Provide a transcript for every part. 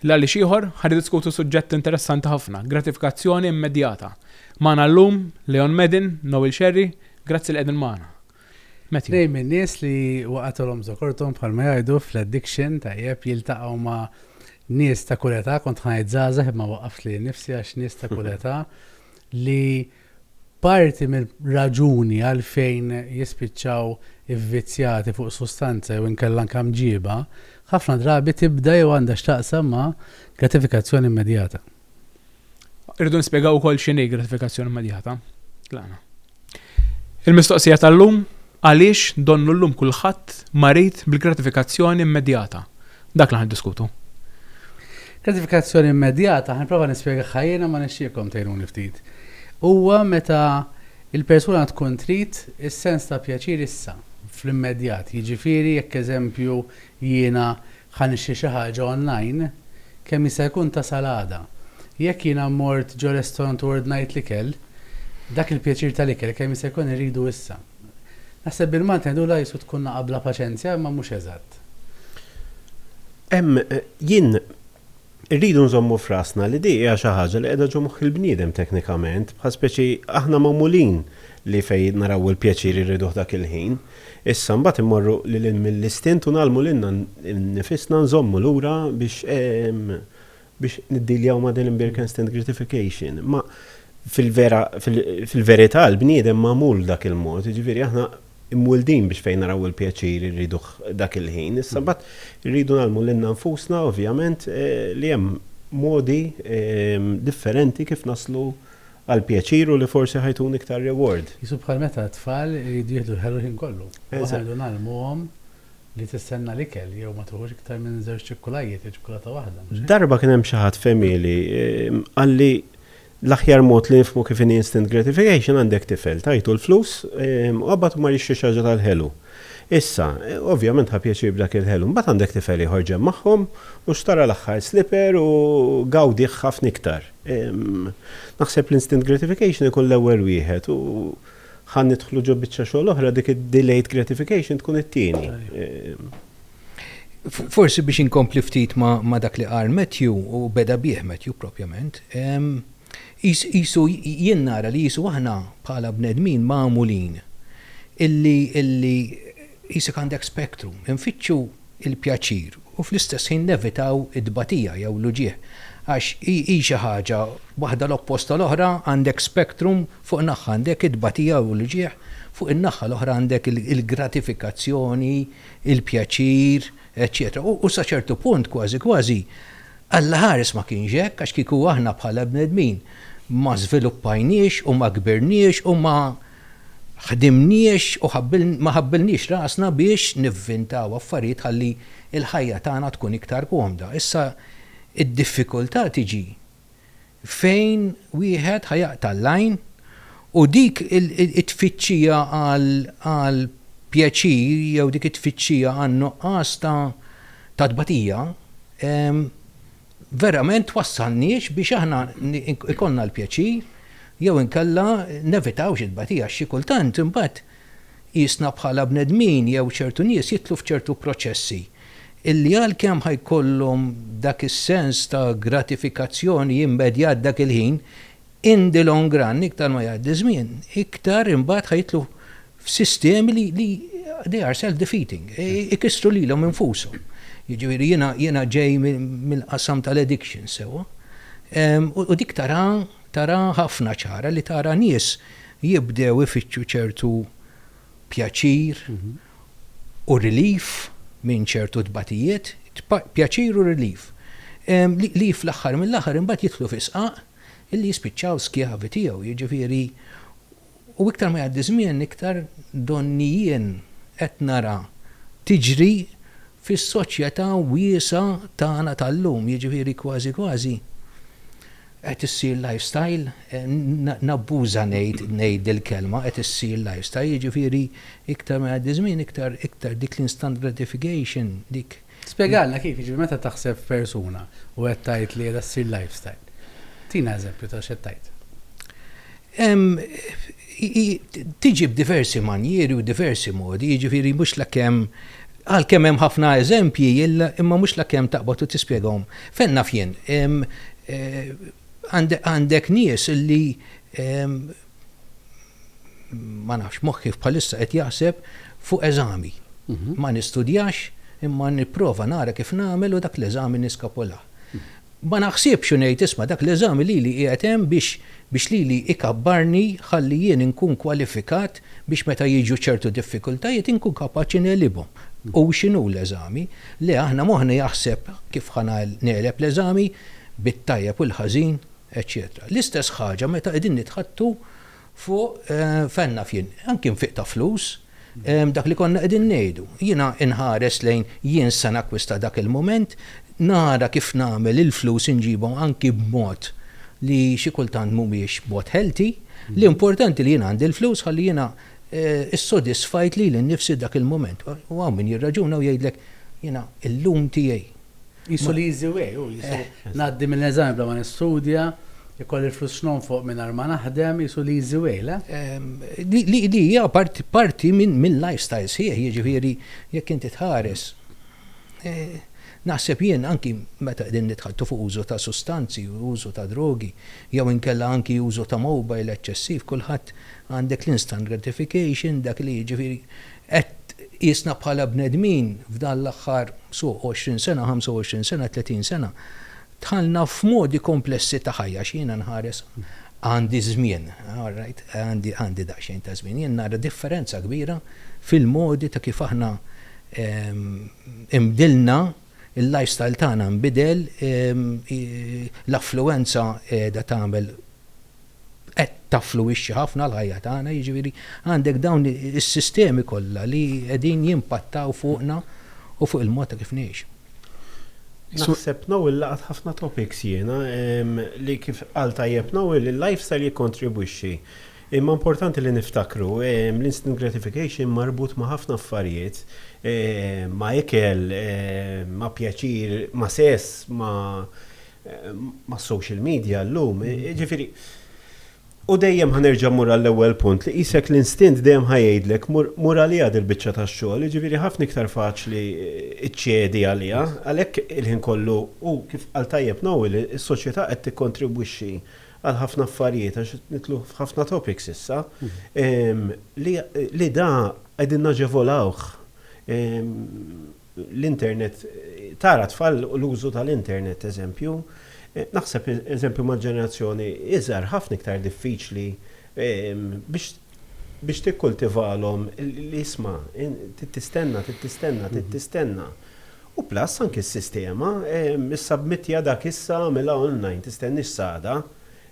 L-għaliex ieħor ħad diskutu suġġett interessanti ħafna, gratifikazzjoni immedjata. Magħna llum Leon Medin, Noel Sherry, grazzi li qegħdin magħna. Tnejn min-nies li waqgħatulhom żokorthom bħalma jgħidu fl-addiction tajjeb jiltaqgħu ma' nies ta' kull età, kont ngħid żgħażagħ imma waqqaft lili nnifsi għax nies ta' kull età li parti mir-raġuni għalfejn jispiċċaw ivvizzjati fuq sustanza jew inkella anke mġiba, ħafna drabi tibda jew għandha x'taqsam ma' gratifikazzjoni immedjata. Irridu nispjegaw ukoll x'inhi gratifikazzjoni immedjata. Lana. Il-mistoqsija tal-lum għaliex donnu llum kulħadd marid bil-gratifikazzjoni immedjata. Dak li ħan diskutu. Gratifikazzjoni immedjata, ħanprova nispjega ħajjena ma nixtieqkom tgħinuni ftit. Huwa meta il-persuna tkun trid is-sens ta' pjaċir issa, fl-immedjat. Jiġifieri jekk eżempju jiena Ħa nixtri xi ħaġa online, kemm jista' jkun tasal għada. Jekk jiena mort ġo restorant u ordnajt l-ikel, dak il-pjaċir tal-ikel kemm jista' jkun irridu issa. Naħseb bil-Malti ngħidu l-għajsu tkun nagħaq bla paċenzja imma mhux eżatt. Hemm jien Irridu nżommu f'rasna li di hija xi ħaġa li qiegħda ġo moħħ il-bniedem teknikament, bħal speċi aħna magħmulin li fejn naraw il-pjaċir irriduh dak il-ħin. Issa mbagħad immorru lil hinn mill-istint u ngħallmu lilna nnifisna nżommu lura biex biex niddiljaw ma' din l-imbirkenstant gratification. Imma fil-vera fil-verità l-bniedem magħmul dak il-mod, jiġifieri aħna imwildin biex fejn naraw il-pjaċir irriduh dak il-ħin. Issa mbagħad irridu ngħallmu lilna nfusna ovvjament li hemm modi differenti kif naslu għall-pjaċir u li forsi ħajtuni iktar reward. Qisu bħal meta t-tfal iridu jieħdu l-ħelu l-ħin kollu. U aħna rridu ngħallmuhom li tistenna l-ikel jew ma tieħux iktar minn żewġ ċikkulajjiet jew ċikkulata waħda. Darba kien hemm xi ħadd f'għemieli qalli L-aħjar mod li nifhmu kif inhi instant gratification għandek tifel, tagħtu l-flus u mbagħad hu mar jixtri xi ħaġa tal-ħelu. Issa, ovvjament ħa pjaċir b'dak il-ħelu. Mbagħad għandek tifel ieħor ġenb magħhom u xtara l-aħħar slipper u gawdih ħafna iktar. Naħseb l-instant gratification ikun l-ewwel wieħed u ħa nidħlu ġo biċċa xogħol oħra, dik id-delayed gratification tkun it-tieni. Forsi biex inkompli ftit ma' dak li qal Matthew, u beda bih Matthew propjament, qisu jien nara li qisu aħna bħala bnedmin magħmulin illi illi qisek għandek spectrum, infittxu l-pjaċir u fl-istess ħin nevitaw it-tbatija jew l-uġigħ għax hi xi ħaġa waħda l-oppost tal-oħra, għandek spectrum fuq naħħa għandek it-tbatija u l-uġigħ, fuq in-naħħa l-oħra għandek il-gratifikazzjoni, il-pjaċir, eċċetera U sa ċertu punt, kważi kważi, Alla ħares ma kienx hekk, għax kieku aħna bħala bnedmin ma żviluppajniex u ma kbirniex u ma ħdimniex u ma ħabbilniex rasna biex nivvintaw affarijiet ħalli l-ħajja tagħna tkun iktar komda. Issa d-diffikultà tiġi fejn wieħed ħa jaqta' l-għajn u dik it-tfittxija għal pjaċir jew dik it-tfittxija għan-nuqqas ta' tbatija verament twassalniex biex aħna jkollna l-pjaċir jew inkella nevitawx it-tbatija għax xi kultant imbagħad Qisna bħala bnedmin jew ċertu nies jidħlu f'ċertu proċessi illi għalkemm ħa jkollhom dak is-sens ta' gratifikazzjoni immedjat dak il-ħin, in the long run, iktar ma jgħaddi ż-żmien, iktar imbagħad ħa jidħlu f'sistemi li li they are self defeating, ikissru lilhom infushom. Jiġifieri jiena jiena ġej mill-qasam tal-addictions sewwa u dik taraha taraha ħafna ċara li tara nies jibdew ifittxu ċertu pjaċir u relief minn ċertu tbatijiet, pjaċir u relief, li fl-aħħar mill-aħħar imbagħad jidħlu fi sqaq illi jispiċċaw skjavi tiegħu. Jiġifieri, u iktar ma jgħaddi żmien iktar donni jien qed nara tiġri fis-soċjetà wiesgħa tagħna tal-lum, jiġifieri kważi kważi Qed issir lifestyle, nabbuża ngħid ngħid dil-kelma, qed issir lifestyle, jiġifieri iktar ma jgħaddi ż-żmien iktar iktar dik l-instant gratification, dik. Spjegalna kif, jiġifieri meta taħseb f'persuna u qed tgħid li qiegħda ssir lifestyle. Tina eżempju ta' x'qed tgħid. Hemm, hi tiġi b'diversi manjieri u diversi modi, jiġifieri mhux lakemm, għalkemm hemm ħafna eżempji, imma mhux lakemm taqbad u tispjegahom. Fejn naf jien, għandek nies li, ma nafx, moħħi bħalissa qed jaħseb fuq eżami. Ma nistudjax imma nipprova nara kif nagħmel u dak l-eżami niskapulah. Ma naħsibx u ngħid isma' dak l-eżami lili qiegħed hemm biex biex lili ikabbarni ħalli jien inkun kwalifikat biex meta jiġu ċertu diffikultajiet inkun kapaċi negħlibhom. Hu x'inhu l-eżami? Le, aħna moħħna jaħseb kif ħa negħleb l-eżami bit-tajjeb u l-ħażin, eċċetera L-istess ħaġa meta qegħdin nitħaddtu Fuq fejn naf jien, anki nfiq ta' flus, dak li konna qegħdin ngħidu. Jiena nħares lejn jien se nakkwista dak il-mument, nara kif nagħmel il-flus inġibhom anki b'mod li xi kultant mhumiex mod healthy. L-importanti li jien għandi l-flus ħalli jiena ssodisfajt lili nnifsi dak il-mument. U hawn min jirraġuna u jgħidlek, jiena llum tiegħi, Qisu li easy way hu, qisu ngħaddi mill-eżami bla ma nistudja, ikolli l-flus x'nonfoq mingħajr ma naħdem, qisu li easy way, le? Li hija parti minn lifestyle sħiħ, jiġifieri jekk inti tħares, naħseb jien anki meta qegħdin nitħattu fuq użu ta' sustanzi, użu ta' drogi, jew inkella anki użu ta' mobile eċċessiv, kulħadd għandek l-instant gratification, dak li jiġifieri Qed tqisna bħala bnedmin f'dan l-aħħar so 20 sena, 25 sena, 30 sena, dħalna f'modi komplessi ta' ħajja għax jiena nħares għandi żmien, all right, għandi daqsxejn ta' żmien, jien nara differenza kbira fil-modi ta' kif aħna inbdilna, il-lifestyle tagħna nbidel, l-affluwenza qiegħda tagħmel qed taffluwixxi ħafna l-ħajja tagħna, jiġifieri għandek dawn is-sistemi kollha li qegħdin jimpattaw fuqna u fuq il-mod ta' kif ngħixu. Naħseb Noel laqat ħafna topics jiena li kif qal tajjeb Noel il-lifestyle jikkontribwixxi. Imma importanti li niftakru l-instant gratification marbut ma' ħafna affarijiet, ma' ikel, ma' pjaċir, ma' sess, ma' mas-social media llum, jiġifieri, u dejjem ħa nerġa' mmur għall-ewwel punt li qisek l-instint dejjem ħa jgħidlek mur mur għaliha dil-biċċa tax-xogħol, jiġifieri ħafna iktar faċli ċċedi għaliha. Għalhekk il-ħin kollu u kif qal tajjeb Noel, is-soċjetà qed tikkontribwixxi għal ħafna affarijiet għax qed nidħlu f'ħafna topics issa, li li da qegħdin naġevolawh. l-internet, tara tfal u l-użu tal-internet eżempju, naħseb eżempju mal-ġenerazzjoni iżgħar ħafna iktar diffiċli biex biex tikkultivalhom li isma' trid tistenna, trid tistenna, trid tistenna. U plus anki s-sistema, issubmittja dak issa, agħmilha online, tistenniex s'għada.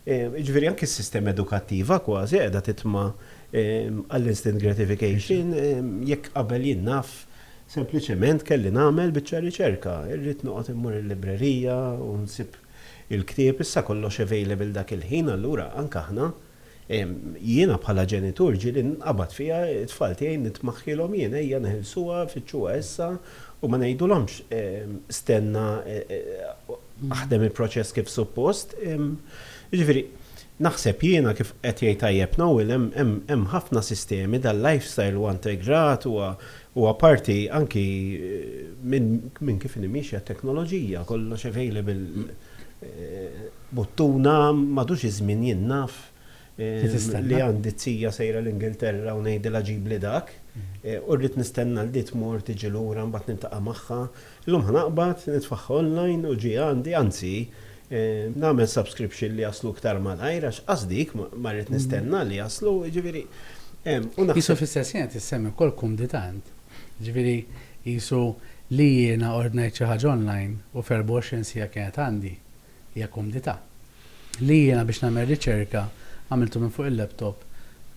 Jiġifieri anki s-sistema edukattiva kważi qiegħda titma' għall-instant gratification jekk qabel jien naf, Sempliċement kelli nagħmel biċċa riċerka, irrid noqgħod immur il-librerija u nsib il-ktieb, issa kollox available dak il-ħin allura anke aħna, jiena bħala ġenitur ġieli nqabad fija t-tfal tiegħi nitmaħħilhom jien ejja neħilsuha fittxuha issa u ma ngħidulhomx stenna aħdem il-proċess kif suppost, jiġifieri Naħseb jiena kif qed jgħid tajjeb Noel hemm hemm hemm ħafna sistemi dal-lifestyle huwa integrat huwa huwa parti anki minn minn kif inhi miexja t-teknoloġija kollox available buttuna m'għadux iż-żmien jien naf li għandi t-tija sejra l-Ingilterra u ngħidilha ġibli dak u rrid nistenna li tmur tiġi lura mbagħad niltaqa' magħha Illum ħa naqbad, nitfagħha online u ġie għandi, anzi, nagħmel subscription li jaslu iktar malajr għax qasdi ma rrid nistenna li jaslu, jiġifieri, u naħseb. Qisu fl-istess ħin qed issemmi wkoll kumdità int. Jiġifieri qisu li jiena ordnajt xi ħaġa online u f'erbgħa u għoxrin siegħa kienet għandi. Hija kumdità. Li jiena biex nagħmel riċerka għamiltu minn fuq il-laptop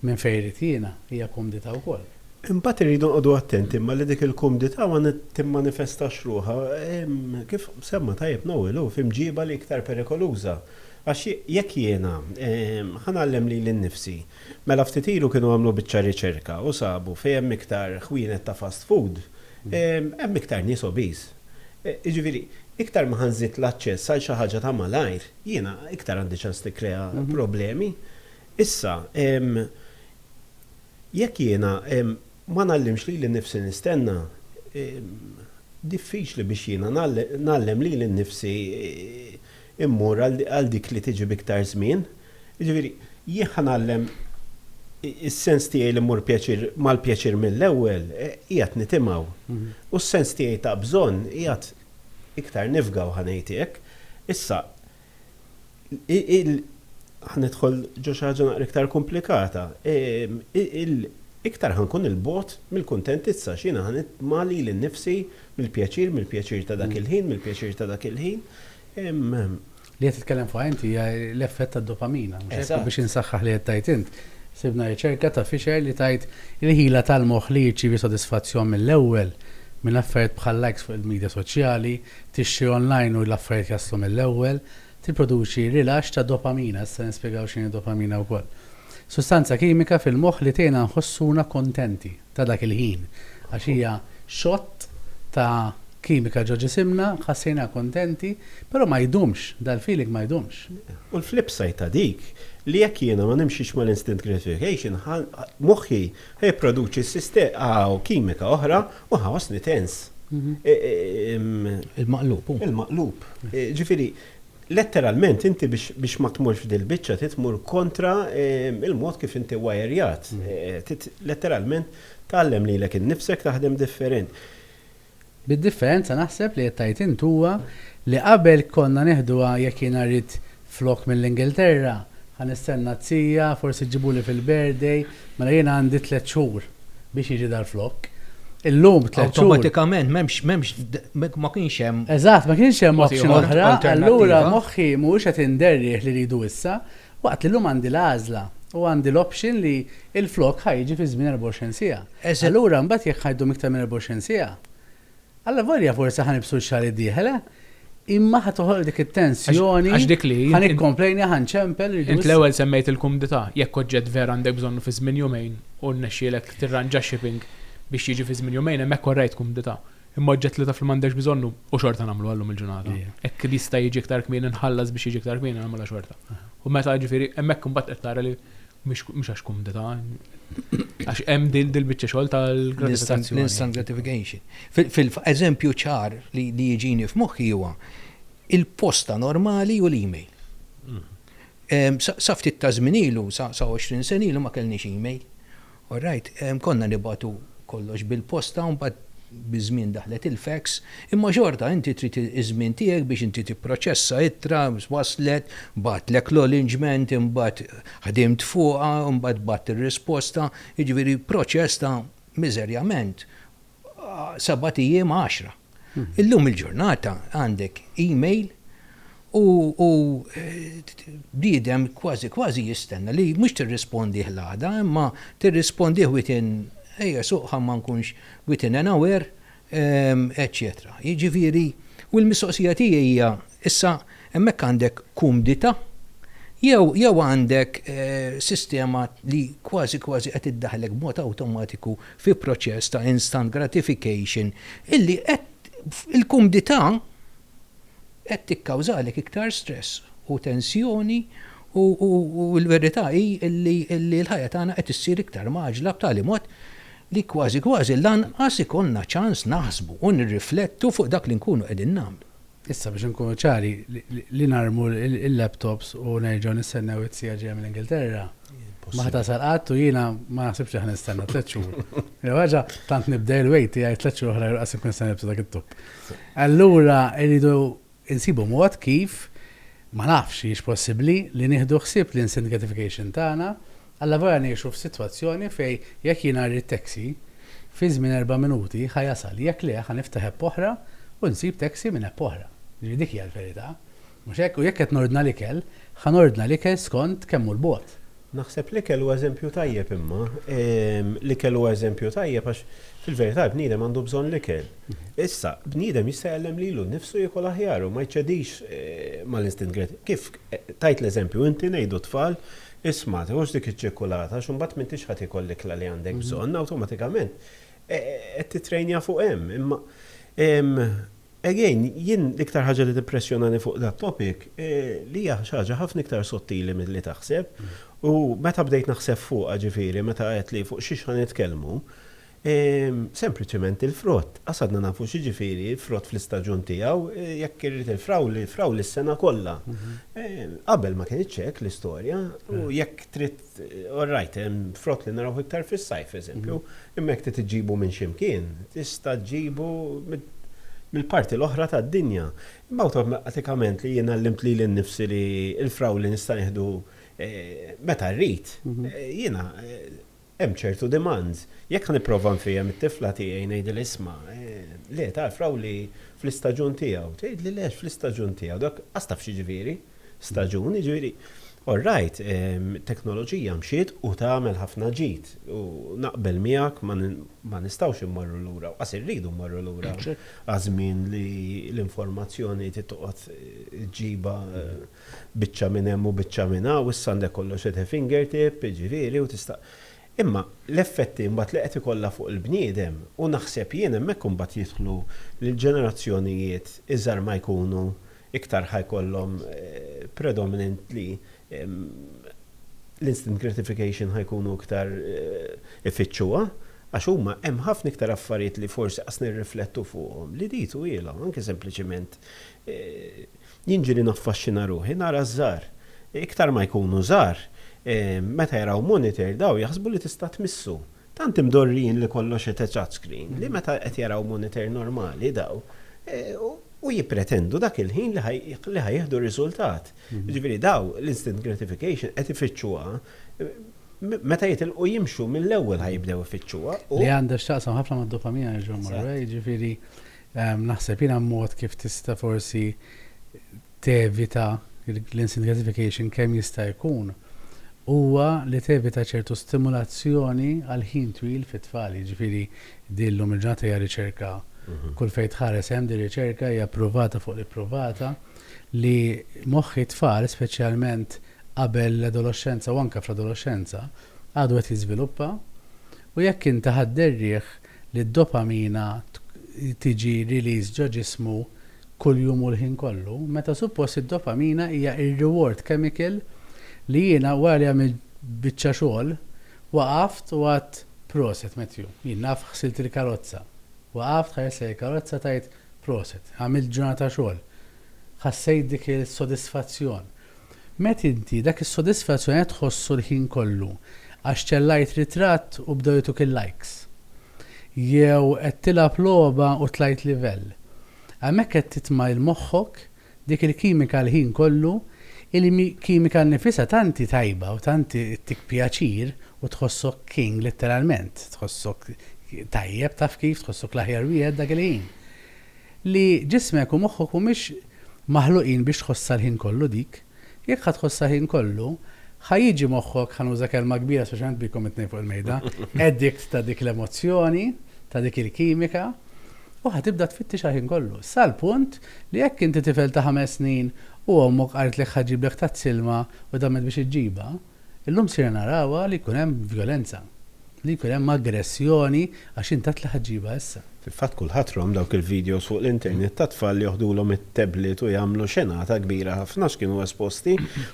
minn fejn irid jiena, hija kumdità wkoll. Imbagħad irridu nqogħdu attenti imma li dik il-kumdità ma timmanifestax ruħha, kif semma tajjeb Noel hu, f'imġiba li iktar perikoluża. Għax jekk jiena, ħa ngħallem lili nnifsi, mela ftit ilu kienu għamlu biċċa riċerka u sabu fejn hemm iktar ħwienet ta' fast food, hemm iktar nies obese. Jiġifieri, iktar ma ħa nżid l-aċċess għal xi ħaġa ta' malajr, jiena iktar għandi ċans nikkrea problemi. Issa, jekk jiena ma ngħallimx lili nnifsi nistenna, diffiċli biex jiena ngħallem lili nnifsi immur għal dik li tiġi b'iktar żmien, jiġifieri jien ħa ngħallem is-sens tiegħi li mmur pjaċir mal-pjaċir mill-ewwel qiegħed nitimgħu. U s-sens tiegħi ta' bżonn qiegħed iktar nifgaw ħa ngħid hekk. Issa il ħa nidħol ġo xi ħaġa naqra iktar komplikata. Iktar ħa nkun 'il bogħod mill-kuntentizza għax jiena ħa nitma' lili nnifsi, Mill-pjaċir, mill-pjaċir ta' dak il-ħin, mill-pjaċir ta' dak il-ħin. Li qed titkellem fuqha inti hija l-effett tad-dopamina, mhux hekk? U biex insaħħaħ li qed tgħid int, sibna riċerka ta' Fisher li tgħid il-ħila tal-moħħ li jirċievi sodisfazzjon mill-ewwel minn affarijiet bħal-likes fuq il-midja soċjali, tixtri online u l-affarijiet jaslu mill-ewwel, tipproduċi rilaxx ta' dopamina, issa nispjegaw x'inhi d-dopamina wkoll. Sustanza kimika fil-moħħ li tgħinna nħossuna kuntenti. ta' dak il-ħin, għax hija xott ta' kimika ġo ġisimna, ħassejna kuntenti, però ma jdumx, dal-feeling ma jdumx. U l-flip side ta' dik, li jekk jiena ma nimxix mal-instant gratification, ħa, moħħi ħa jipproduċi siste, ħa, kimika oħra u ħa ħossni tense. Il-maqlub hu. Il-maqlub. Ġifieri, Letteralment inti biex biex ma tmurx f'dil-biċċa trid tmur kontra il-mod kif inti wajerjat. Trid letteralment tgħallem lilek innifsek taħdem different. Bid-differenza naħseb li qed tgħid int huwa li qabel konna neħduha jekk jiena rrid flokk mill-Ingilterra ħa nistenna t-zija, forsi ġġibuli fil-birthday, Mela jiena għandi tliet xhur biex jiġi dal-flokk. Illum tliet xhur. Awtomatikament m'hemmx m'hemmx ma kienx hemm. Eżatt, ma kienx hemm option oħra, allura moħħi mhuwiex qed inderrieh li rridu issa, waqt li llum għandi l-għażla u għandi l-option li l-flokk ħa jiġi fi żmien 24 siegħa. Allura mbagħad jekk ħa jdum iktar minn 24 siegħa, Allavolja forsi ħa nibsu x-xahar id-dieħel, eh? Imma ħa toħloq dik it-tensjoni. Għax dik li. Ħa nikkomplejni, ħa nċempel. Int l-ewwel semmejt il-kumdità, jekk oġġett vera għandek bżonnu fi żmien jumejn u rnexxielek tirranġa shipping biex jiġi fi żmien jumejn hemm hekk orrejt kumdità. Imma oġġett li taf li m'għandekx bżonnu u xorta nagħmluha llum il-ġurnata. Hekk jista' jiġi iktar kmieni nħallas biex jiġi iktar kmieni nagħmilha xorta. U meta jiġifieri hemm hekk imbagħad qed tara li Mhux għax kumdità, għax hemm dil-biċċa xogħol tal-gratification. L-instant gratification. Fil-eżempju ċar li jiġini f'moħħi huwa il-posta normali u l-email. Mm. Sa ftit ta' żminilu, sa 20 senilu ma kellniex email. All right, konna nibatu kollox bil-posta un bad biż-żmien daħlet il-fax, imma xorta inti trid iż-żmien tiegħek biex inti tipproċessa ittra, waslet, batlek l-olinġment, imbagħad Ħdimt fuqha u mbagħad bgħatt ir-risposta, jiġifieri proċess ta' miżerjament sebat ijiem għaxra. Illum il-ġurnata għandek email u bniedem kważi kważi jistenna li mhux tirrispondih l-għada imma tirrispondih within, ejja suqha ma nkunx, within an hour eċċetera. Jiġifieri, u l-mistoqsija tiegħi hija, issa hemmhekk għandek kumdità jew jew għandek sistema li kważi kważi qed iddaħħlek b'mod awtomatiku fi proċess ta' instant gratification illi qed il-kumdità qed tikkawżalek iktar stress u tensjoni u u l-verità hi illi illi l-ħajja tagħna qed issir iktar mgħaġġla b'tali mod li kważi kważi lanqas ikollna ċans naħsbu u nirriflettu fuq dak li nkunu qegħdin nagħmlu. Issa biex inkunu ċari, li narmu l-laptops u nerġgħu nistennew it-CIA ġejja mill-Ingilterra, ma ħa tasal qatt u jiena ma naħsibx li ħa nistenna tliet xhur. Jew ħaġa, tant nibda il-wait tiegħi tliet xhur oħra jqasibni se nilbsu dak it-topp. Allura irridu insibu mod kif, ma nafx, hijiex possibbli li nieħdu ħsieb l-instant gratification tagħna, alla volja ngħixu f'sitwazzjoni fejn jekk jiena rrid taxi, fi żmien erba' minuti ħa jasal, jekk le ħa niftaħ app oħra u nsib taxi minn app oħra. Jiġifieri dik hija l-verità, mhux hekk? U jekk qed nordna l-ikel, ħa nordna l-ikel skont kemm hu l-bogħod, Naħseb l-ikel hu eżempju tajjeb imma, l-ikel hu eżempju tajjeb għax fil-verità l-bniedem għandu bżonn l-ikel. Issa, bniedem jista' jgħallem lilu nnifsu jiekol aħjar u ma jċedix mal-instint kreattiv. Kif tajt l-eżempju inti ngħidu t-tfal, isma' tiħux dik iċ-ċikkulata għax imbagħad m'intix ħa tiekol l-ikla li għandek bżonn, awtomatikament qed tittrejnja fuq hemm. Imma. Again, jien l-iktar ħaġa li timpressjonani fuq dat-topic hi li hija xi ħaġa ħafna iktar sottili milli taħseb u meta bdejt naħseb fuqha, ġifieri meta għedtli fuq xiex ħa nitkellmu, sempliċement il-frott. Qas għadna nafu x'jiġifieri frott fl-istaġun tiegħu, jekk irrid il-frawli, frawli s-sena kollha. Qabel ma kinitx hekk l-istorja u jekk trid. All right, hemm frott li narawh iktar fis-sajf, eżempju, imma jekk trid iġġibu minn xi mkien, tista' ġġibu mill-parti l-oħra tad-dinja. Imma awtomatikament li jien għallimt lili nnifsi li l-frawli nista' nieħdu meta rrid, jiena hemm ċertu demands. Jekk ħa nipprova nfehhem it-tifla tiegħi ngħidilha isma', le, ta' l-frawli fl-istaġun tiegħu. Tgħidli le, fl-istaġun tiegħu. Dak qas taf x'jiġifieri. staġun, jiġifieri orrajt, teknoloġija mxiet u tagħmel ħafna ġid u naqbel miegħek ma nistgħux immorru lura u qas irridu mmorru lura għaż-żmien li l-informazzjoni trid toqgħod ġġibha biċċa minn hemm u biċċa minn hawn, issa għandek kollox at a finger tip, jiġifieri u tista'. Imma l-effetti mbagħad li qed ikollha fuq il-bniedem u naħseb jien hemmhekk imbagħad jidħlu l-ġenerazzjonijiet iżgħar ma jkunu iktar ħa jkollhom predominantly l-instant gratification ħa jkunu iktar ifittxuha għax huma hemm ħafna iktar affarijiet li forsi qas nirriflettu fuqhom li di twielhom anke sempliċiment jien ġieli naffaxxina ruħi nara ż-żgħar iktar ma jkunu żgħar meta jaraw monitor dawn jaħsbu li tista' tmissu. Tant imdorrijin li kollox qed touch screen li meta qed jaraw monitor normali daw u jippretendu dak il-ħin li ħa jieħdu r-riżultat. Jiġifieri daw l-instant gratification qed ifittxuha meta jitilqu jimxu mill-ewwel ħa jibdew ifittxuha u. Li għandha x'taqsam ħafna mad-dopamina nerġa' mmorru lejha jiġifieri naħseb jiena mod kif tista' forsi tevita l-instant gratification kemm jista' jkun huwa li tevita ċertu stimulazzjoni għal ħin twil fit-tfal. Jiġifieri din llum il-ġurnata hija riċerka, kull fejn tħares hemm din riċerka, hija ppruvata fuq l-ippruvata li moħħi t-tfal, speċjalment qabel l-adoloxxenza u anke fl-adoloxxenza, għadu qed jiżviluppa u jekk inti ħadd ir-riħ, li d-dopamina tiġi released ġo ġismu kuljum u l-ħin kollu, meta suppost id-dopamina hija r-reward chemical li jiena wara li għamilt biċċa xogħol waqaft u għidt proset Matthew, jien naf ħsilt il-karozza, waqaft ħarist lejn il-karozza tgħid proset, għamilt ġurnata xogħol, ħassejt dik is-sodisfazzjon. Mett inti, dak is-sodisfazzjon qed tħossu l-ħin kollu għax ċellajt ritratt u bdew jagħtuk il-likes? Jew qed tilgħab logħba u tlajt livell? Hemmhekk qed titma' lil moħħok dik il-kimika l-ħin kollu, il-kimika nnifisha tant hi tajba u tant ittik pjaċir u tħossok king litteralment, tħossok tajjeb taf kif, tħossok l-aħjar wieħed dak il-ħin. li ġismek u moħħok mhumiex maħluqin biex tħossha l-ħin kollu dik. Jekk ħa tħossha l-ħin kollu, ħa jiġi moħħok, ħa nuża kelma kbira speċjalment bikom it-tnejn fuq il-mejda, addict ta' dik l-emozzjoni, ta' dik il-kimika, u ħa tibda tfittixha l-ħin kollu. Sal-punt li jekk inti tifel ta' ħames snin u ommok qaltlek ħa ġġiblek tazz ilma u damet biex iġġibha, Illum sirna narawha li jkun hemm vjolenza, li jkun hemm aggressjoni għax intat l-ħġiba issa. Fil-fatt kulħadd rom dawk il-videos fuq l-internet ta' tfal li joħdulhom it-tablet u jagħmlu xenata kbira ħafna x'kienu esposti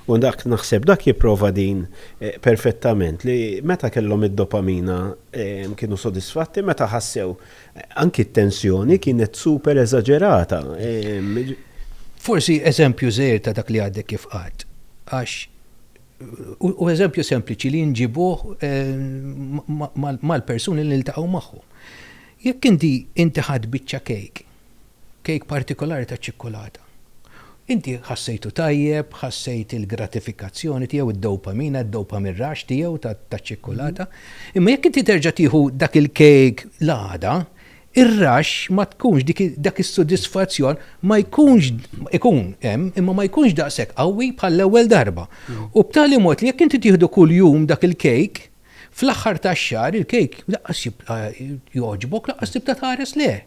u dak naħseb dak jipprova din perfettament li meta kellhom id-dopamina kienu sodisfatti meta ħassew anki t-tensjoni kienet super eżaġerata jiġifieri Forsi eżempju żgħir ta' dak li għadek kif għedt għax Hu eżempju sempliċi li nġibuh mal-persuni li niltaqgħu magħhom. Jekk inti inti ħadt biċċa kejk, kejk partikolari taċ-ċikkulata, inti ħassejtu tajjeb, ħassejt il-gratifikazzjoni tiegħu, id-dopamina, id-dopamine rush tiegħu taċ-ċikkulata, imma jekk inti terġa' tieħu dak il-kejk l-għada, Ir-rush ma tkunx, dak is-sodisfazzjon ma jkunx, ikun hemm, imma ma jkunx daqshekk qawwi bħall-ewwel darba. U b'tali mod li jekk inti tieħdu kuljum dak il-kejk, fl-aħħar tax-xahar il-kejk laqqas jibqa' jogħġbok, laqqas tibda tħares lejh.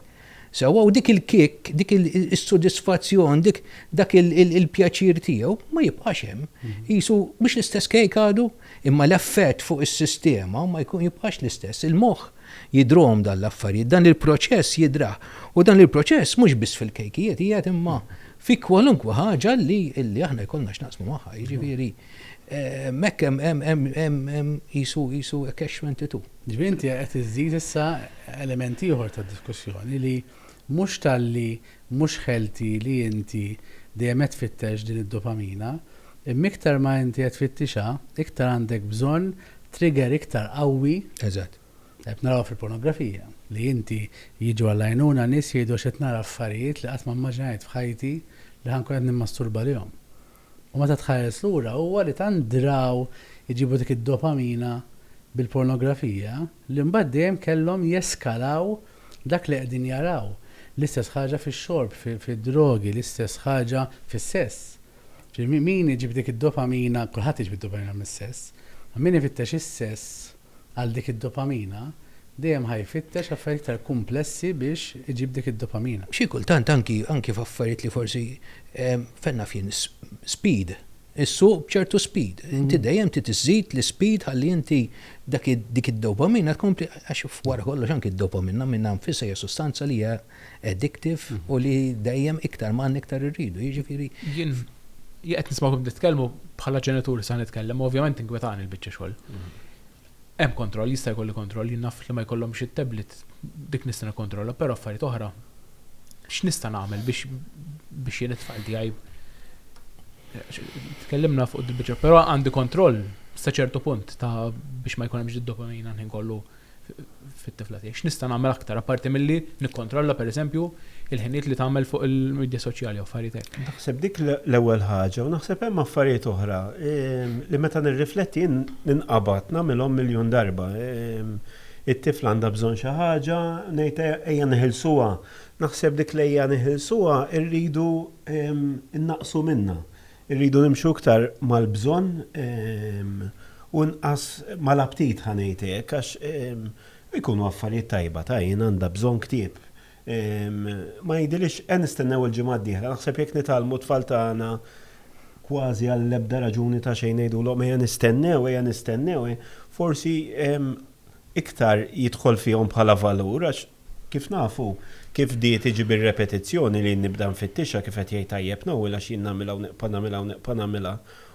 Sewwa, u dik il-kick, dik is-sodisfazzjon, dak il-pjaċir tiegħu ma jibqax hemm. Qisu mhux l-istess kejk għadu, imma l-effett fuq is-sistema ma jibqax l-istess. Il-moħħ Jidhruhom dan l-affarijiet, dan il-proċess jidhrah. U dan il-proċess mhux biss fil-kejkijiet qiegħed imma fi kwalunkwe ħaġa li li aħna jkollna x'naqsmu magħha, jiġifieri hekk hemm hemm qisu qisu catch 22. Ġifieri inti qed iżżid issa element ieħor ta' diskussjoni li Mhux talli mhux ħelti li inti dejjem qed tfittex din id-dopamina, imma iktar ma inti qed tfittixha, iktar għandek bżonn trigger iktar qawwi. Eżatt. Qed narawha fil-pornografija, li inti jiġu għall-għajnuna nies jgħidu għax qed nara affarijiet li qatt ma mmaġinajt f'ħajti li ħa nkun qed nimmasturba għalihom. U meta tħares lura huwa li tant draw iġibu dik id-dopamina bil-pornografija li mbagħad dejjem kellhom jeskalaw dak li qegħdin jaraw. L-istess ħaġa fix-xorb, fid-drogi, l-istess ħaġa fis-sess. Ġifieri min iġib dik id-dopamina, kulħadd iġib id-dopamina mis-sess, imma min ifittex is-sess, għal dik id-dopamina, dejjem ħa jfittex affarijiet iktar kumplessi biex iġib dik id-dopamina. Xi kultant anki anki f'affarijiet li forsi, fejn naf jien, speed, issuq b'ċertu speed. Inti dejjem trid iżżid l-ispeed ħalli inti dak id dik id-dopamina tkompli għax f'wara kollox anki d-dopamina minnha nfisha hija sustanza li hija addictive u li dejjem iktar ma għandna iktar irridu, jiġifieri. Jien qed nismagħkom qed titkellmu bħala ġenitur se nitkellem u ovvjament tinkwetani l-biċċa xogħol. Hemm kontroll, jista' jkolli kontroll, jien naf li ma jkollhomx it-tablet dik nista' nikkontrolla, però affarijiet oħra x'nista' nagħmel biex biex jien it-tfal tiegħi tkellimna fuq il-biċċa, però għandi kontroll sa ċertu punt ta' biex ma jkun hemmx id-dopamina ħin kollu fit-tifla tiegħi. X'nista' nagħmel aktar apparti milli nikkontrolla pereżempju il-ħinijiet li tagħmel fuq il-midja soċjali jew affarijiet hekk. Naħseb dik l-ewwel ħaġa u naħseb hemm affarijiet oħra li meta nirrifletti jien ninqabad nagħmilhom miljun darba. It-tifla għandha bżonn xi ħaġa, ngħid ejja neħilsuha. Naħseb dik l-ejja neħilsuha rridu nnaqqsu minnha. Irridu nimxu iktar mal-bżonn u inqas mal-aptit ħa ngħid hekk għax ikunu affarijiet tajba ta' jien għandha bżonn ktieb. Ma jidhirlix qed nistennew il-ġimgħa d-dieħla naħseb jekk nitgħallmu t-tfal tagħna kważi għall-ebda raġuni ta' xejn ngħidulhom ejja nistennew ejja nistennew forsi iktar jidħol fihom bħala valur għax Kif nafu, kif bdiet tiġi bir-repetizzjoni li jien nibda nfittixha kif qed jgħid tajjeb Noel għax jien nagħmilha u neqpa' nagħmilha u neqpa' nagħmilha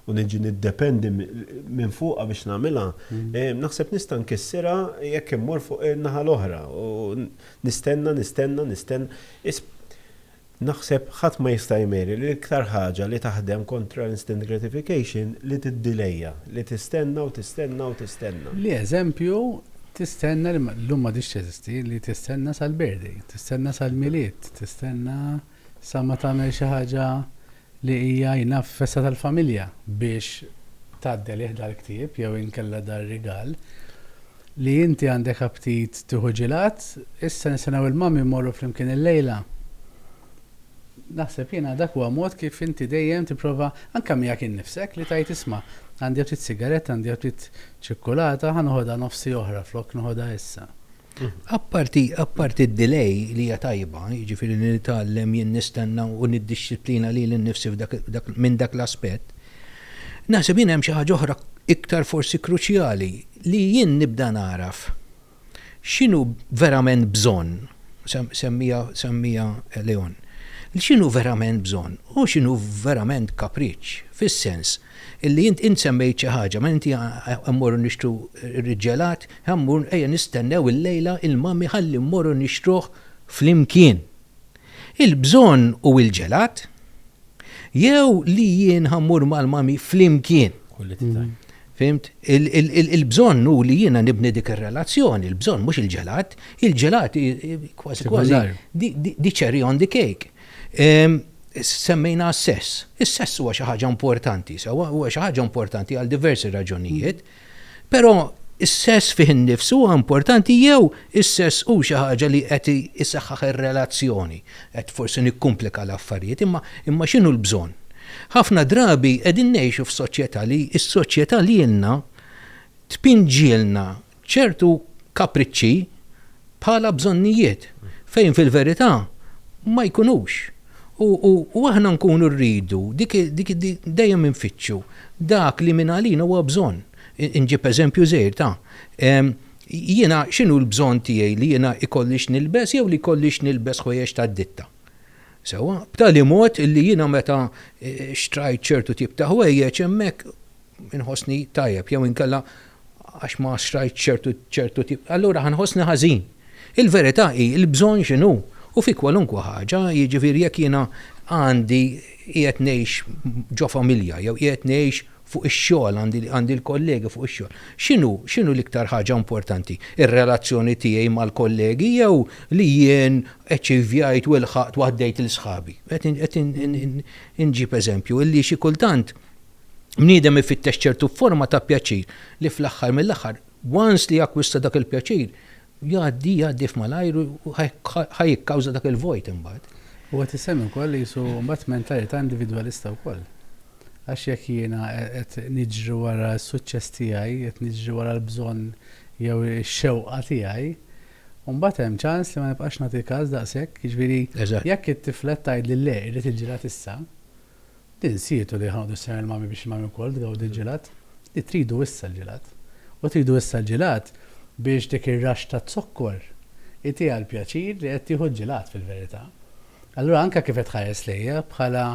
u niġi niddependi minn fuqha biex nagħmilha, naħseb nista' nkissirha jekk immur fuq in-naħa l-oħra u nistenna, nistenna, nistenna. Naħseb ħadd ma jista' jmeri li l-iktar ħaġa li taħdem kontra l-instant gratification li tiddilejja, li tistenna u tistenna u tistenna. Li eżempju, tistenna li, llum m'għadhiex teżisti, li tistenna sal-birthday, tistenna sal-Milied, tistenna sa ma tagħmel xi ħaġa li hija jingħad f'festa tal-familja biex tgħaddi għalih dal-ktieb jew inkella dar-rigal, li inti għandek aptit tieħu ġilgħat, issa nistennew il-mummy mmorru flimkien illejla. Naħseb jiena dak huwa mod kif inti dejjem tipprova, anke miegħek innifsek, li tgħid isma', għandi aptit sigaretta, għandi aptit ċikkulata, ħa noħodha nofsi oħra flok noħodha issa. Apparti, apparti d-delay li hija tajba, jiġifieri li nitgħallem jien nistenna u niddixxiplina lili nnifsi f'dak, dak, minn dak l-aspett, naħseb jien hemm xi ħaġa oħra iktar forsi kruċjali, li jien nibda nagħraf x'inhu verament bżonn, semmiha, semmiha Leon, x'inhu verament bżonn u x'inhu verament kapriċċ, fis-sens Illi int int semmejt xi ħaġa, ma inti ħa mmorru nixtru r-ġelat, ħa mmur ejja nistennew illejla il-mummy ħalli mmorru nixtruh flimkien. Il-bżonn u il-ġelat? Jew li jien ħa mmur mal-mummy flimkien? Fhimt? Il-bżonn hu li jiena nibni dik ir-relazzjoni, il-bżonn mhux il-ġelat, il-ġelat kważi kważi di cherry on the cake. Semmejna s-sess. Is-sess huwa xi ħaġa importanti, sewwa, huwa xi ħaġa importanti għal diversi raġunijiet, però is-sess fih innifs huwa importanti jew is-sess hu xi ħaġa li qed isaħħaħ ir-relazzjoni? Qed forsi nikkumplika l-affarijiet, imma imma x'inhu l-bżonn? Ħafna drabi qegħdin ngħixu f'soċjetà li s-soċjetà lilna tpinġilna ċertu kapriċċi bħala bżonnijiet fejn fil-verità ma jkunux. U aħna nkunu rridu dejjem infittxu dak li mingħalina huwa bżonn. Inġib eżempju żgħir ta', jiena x'inhu l-bżonn tiegħi li jiena jkolli x'nilbes jew li jkolli x'nilbes ħwejjeġ tad-ditta? Sewwa? B'tali mod illi jiena meta xtrajt ċertu tip ta' ħwejjeġ hemmhekk inħossni tajjeb jew inkella għax ma xtrajtx ċertu ċertu tip, allura ħa nħossni ħażin. Il-verità hi l-bżonn x'inhu u fi kwalunkwe ħaġa, jiġifieri jekk jiena għandi qiegħed ngħix ġo familja jew qiegħed ngħix fuq ix-xogħol għandi għandi l-kollegi fuq ix-xogħol, x'inhu x'inhu l-iktar ħaġa importanti, ir-relazzjoni tiegħi mal-kollegi jew li jien eċċivjajt u ilħaqt u għaddejt lil sħabi? Qed qed inġib eżempju illi xi kultant, bniedem ifittex ċertu forma ta' pjaċir li fl-aħħar mill-aħħar once li jakkwista dak il-pjaċir jgħaddi jgħaddi f'malajr u ħa jikkawża dak il-vojt imbagħad. U qed isemmi wkoll li jisu mbagħad mentalità individwalista wkoll. Għax jekk jiena qed niġri wara s-suċċess tiegħi, qed niġri wara l-bżonn jew ix-xewqa tiegħi, mbagħad hemm ċans li ma nibqax nagħti każ daqshekk, jiġifieri jekk it-tiflet tgħidli le irrid il-ġirgħat issa, Tinsietu li ħadu s-sena l-mami biex il-mami wkoll tgawdi l-ġelat? Li tridu issa l-ġelat. U tridu issa l-ġelat biex dik ir-raxx ta' zokkor itiha l-pjaċir li qed tieħu l-ġelat fil-verità. Allura anke kif qed tħares lejja bħala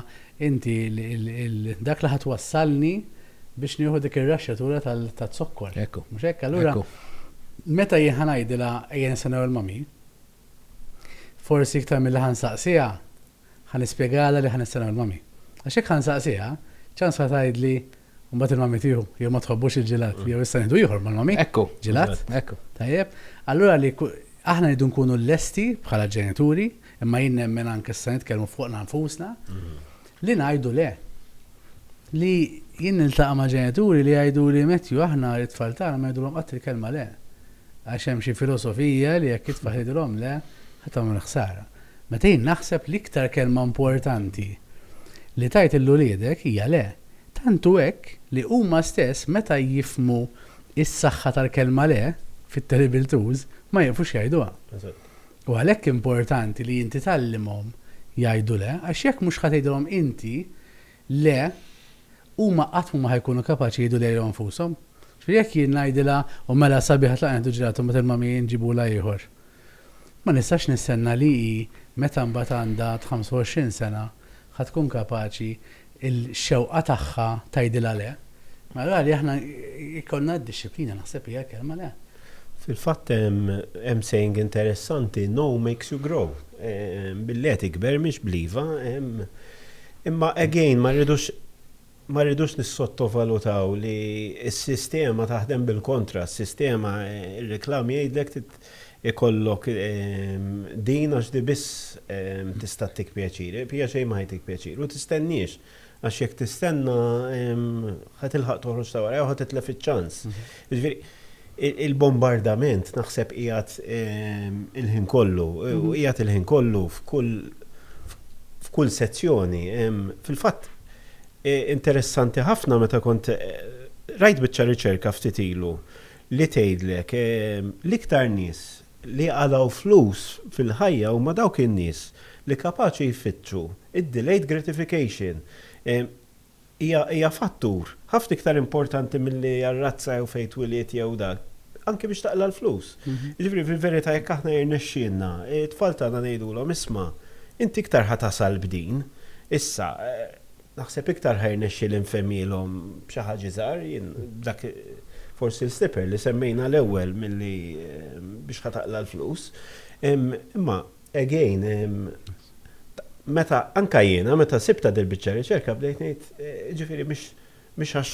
inti dak li ħa twassalni biex nieħu dik ir-raxxatura ta' zokkor. Ekku. Mhux hekk? Allura meta jien ħa ngħidilha ejja nistennew il-mami, forsi iktar milli ħa nsaqsiha, Ħa nispjegalha li ħa nistennew il-mami. Għax jekk ħa nsaqsiha, ċans ħa tgħidli, u mbagħad il-mami tieħu, jew ma tħobbux il-ġelat, jew issa nieħdu ieħor mal-mami. Ekku. Ġelat? Ekku. Tajjeb. Allura li aħna rridu nkunu lesti bħala ġenituri, imma jien nemmen anke issa nitkellmu fuqna nfusna, li ngħidu le. Li jien niltaqa' ma' ġenituri li jgħidu li Matthew aħna it-tfal tagħna ma ngħidulhom qatt il-kelma le. Għax hemm xi filosofija li jekk titfa' ħidrhom le, ħa tagħmel ħsara. Meta jien naħseb l-iktar kelma importanti li tgħid lil uliedek hija le. Tant hu hekk li huma stess meta jifhmu s-saħħa tal-kelma le, fit-terrible twos, ma jieqfux jgħiduha. U għalhekk importanti li inti tgħallimhom jgħidu le, għax jekk mhux ħa tgħidilhom inti, Le, huma qatt mhu ma ħa jkunu kapaċi jgħidu lilhom infushom. Ġifieri jekk jien ngħidilha, u mela sabiħ tlaqgħu nieħdu ġelato mbagħad il-mami jġibulha ieħor. Ma nistax nistenna li hi meta mbagħad għandha t-25 sena ħa tkun kapaċi l-xewqa tagħha tgħidilha le. Mela rali aħna jkollna d-dixxiplina naħseb hija l-kelma le. Fil-fatt hemm saying interessanti, know makes you grow. Billi qed ikber mhix bl-iva. Imma again ma rridux ma rridux nissottovalutaw li s-sistema taħdem bil-kontra, s-sistema ir-reklam jgħidlek trid ikollok din għax di biss tista' ttik pjaċir, hija xejn ma ħa jtik pjaċir u tistennix għax jekk tistenna ħa tilħaq toħroġ ta' wara jew ħa titlef iċ-ċans. Jiġifieri, il-bombardament naħseb qiegħed il-ħin kollu, u qiegħed il-ħin kollu f'kull f'kull sezzjoni. Fil-fatt, interessanti ħafna meta kont rajt biċċa riċerka ftit ilu li tgħidlek l-iktar nies li qalgħu flus fil-ħajja huma dawk in-nies li kapaċi jfittxu d-delayed gratification. hija fattur ħafna iktar importanti milli r-razza jew fejn twilidt jew dak, anki biex taqla' l-flus. Jiġifieri fil-verità jekk aħna jirnexxielna, it-tfal tagħna ngħidulhom isma' inti iktar ħa tasal b'din, issa naħseb iktar ħa jirnexxieli nfehmhielhom b'xi ħaġa iżgħar, jien dak forsi l-slipper li semmejna l-ewwel milli biex ħa taqla' l-flus. Imma Again, meta, anke jiena, meta sibtha dil-biċċa riċerka bdejt ngħid, jiġifieri mhix mhix għax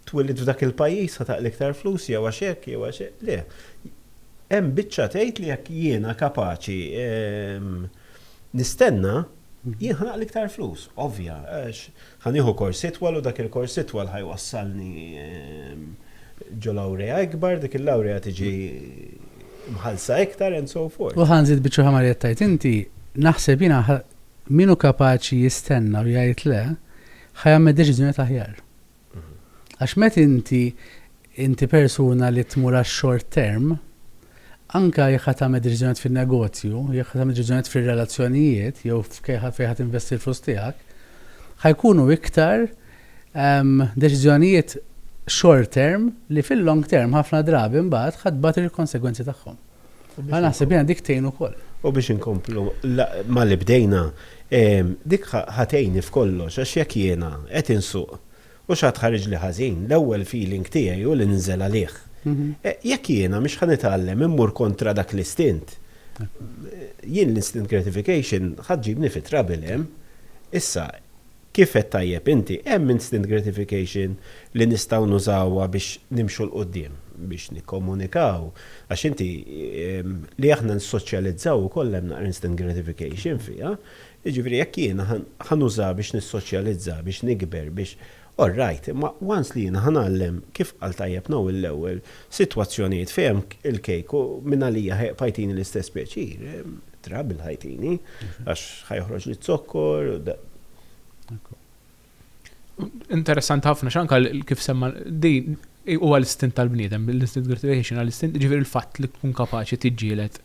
twilidt f'dak il-pajjiż ħa taqli iktar flus jew għax hekk jew għax hekk, le. Hemm biċċa tgħid li jekk jiena kapaċi nistenna, jien ħa naqli iktar flus, ovvja, għax Ħa nieħu kors itwal u dak il-kors itwal ħa jwassalni ġo lawrea ikbar, dik il-lawrea tiġi mħallsa iktar and so forth. U ħa nżid biċċa oħra ma' li qed tgħid inti, naħseb jiena min hu kapaċi jistenna u jgħid le, ħa jagħmel deċiżjonijiet aħjar. Għax meta inti Inti persuna li tmur għax-short term, anke jekk ħa tagħmel deċiżjonijiet fin-negozju, jekk ħa tagħmel deċiżjonijiet fir-relazzjonijiet jew fejn ħa tinvesti l-flus tiegħek, ħa jkunu iktar deċiżjonijiet short term li fil-long term ħafna drabi mbagħad ħa tbati l-konsegwenzi tagħhom. Ħa naħseb jiena dik tgħin ukoll. U biex inkomplu mal-li bdejna, dik ħa tgħinni f'kollox għax jekk jiena qed insuq U x'għad ħariġli ħażin, l-ewwel feeling tiegħi hu li ninżel għalih. Jekk jiena mhix ħa nitgħallem immur kontra dak l-istint, jien l-instant gratification ħa ġġibni fi trouble hemm. Issa, kif għedt tajjeb inti, hemm instant gratification li nistgħu nużawha biex nimxu 'l quddiem, biex nikkomunikaw, għax inti, li aħna nissoċjalizzaw ukoll hemm naqra instant gratification fiha, Jiġifieri jekk jiena ħa nużaha biex nissoċjalizza, biex nikber, biex, all right, imma once li jiena ħa ngħallem, kif qal tajjeb Noel l-ewwel, sitwazzjonijiet fejn hemm il-kejk u mingħalija ħa jibqa' jtini l-istess pjaċir, trouble ħa jtini, għax ħa joħroġli z-zokkor u da. Interessanti ħafna x'anka kif semma din huwa l-istint tal-bniedem, l-instant gratification għal istint ġifieri l-fatt li tkun kapaċi tiġġieled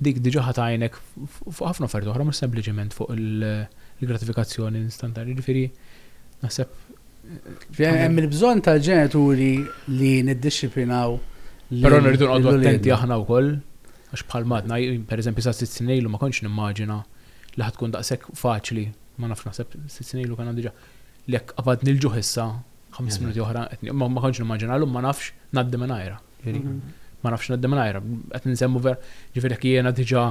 dik diġà ħadd għajnek fuq ħafna affarijiet oħra mhux sempliċement fuq il-gratifikazzjoni instantani, ġifieri naħseb Hemm il-bżonn tal-ġenituri li niddixxiplinaw Però nirridu nqogħdu attenti aħna wkoll għax bħal madna, pereżempju sa sitt snin ilu ma kontx nimmaġina li ħad tkun daqshekk faċli ma nafx naħseb sitt snin ilu kien diġà li jekk qabadni l-ġuħ issa ħames mhm. minuti oħra qed ma ma kontx nimmaġina llum ma nafx ngħaddi minn ajra. Mhm. Ma nafx ngħaddi minn ajra. Qed nsemmu ver, ġifieri jekk jiena diġà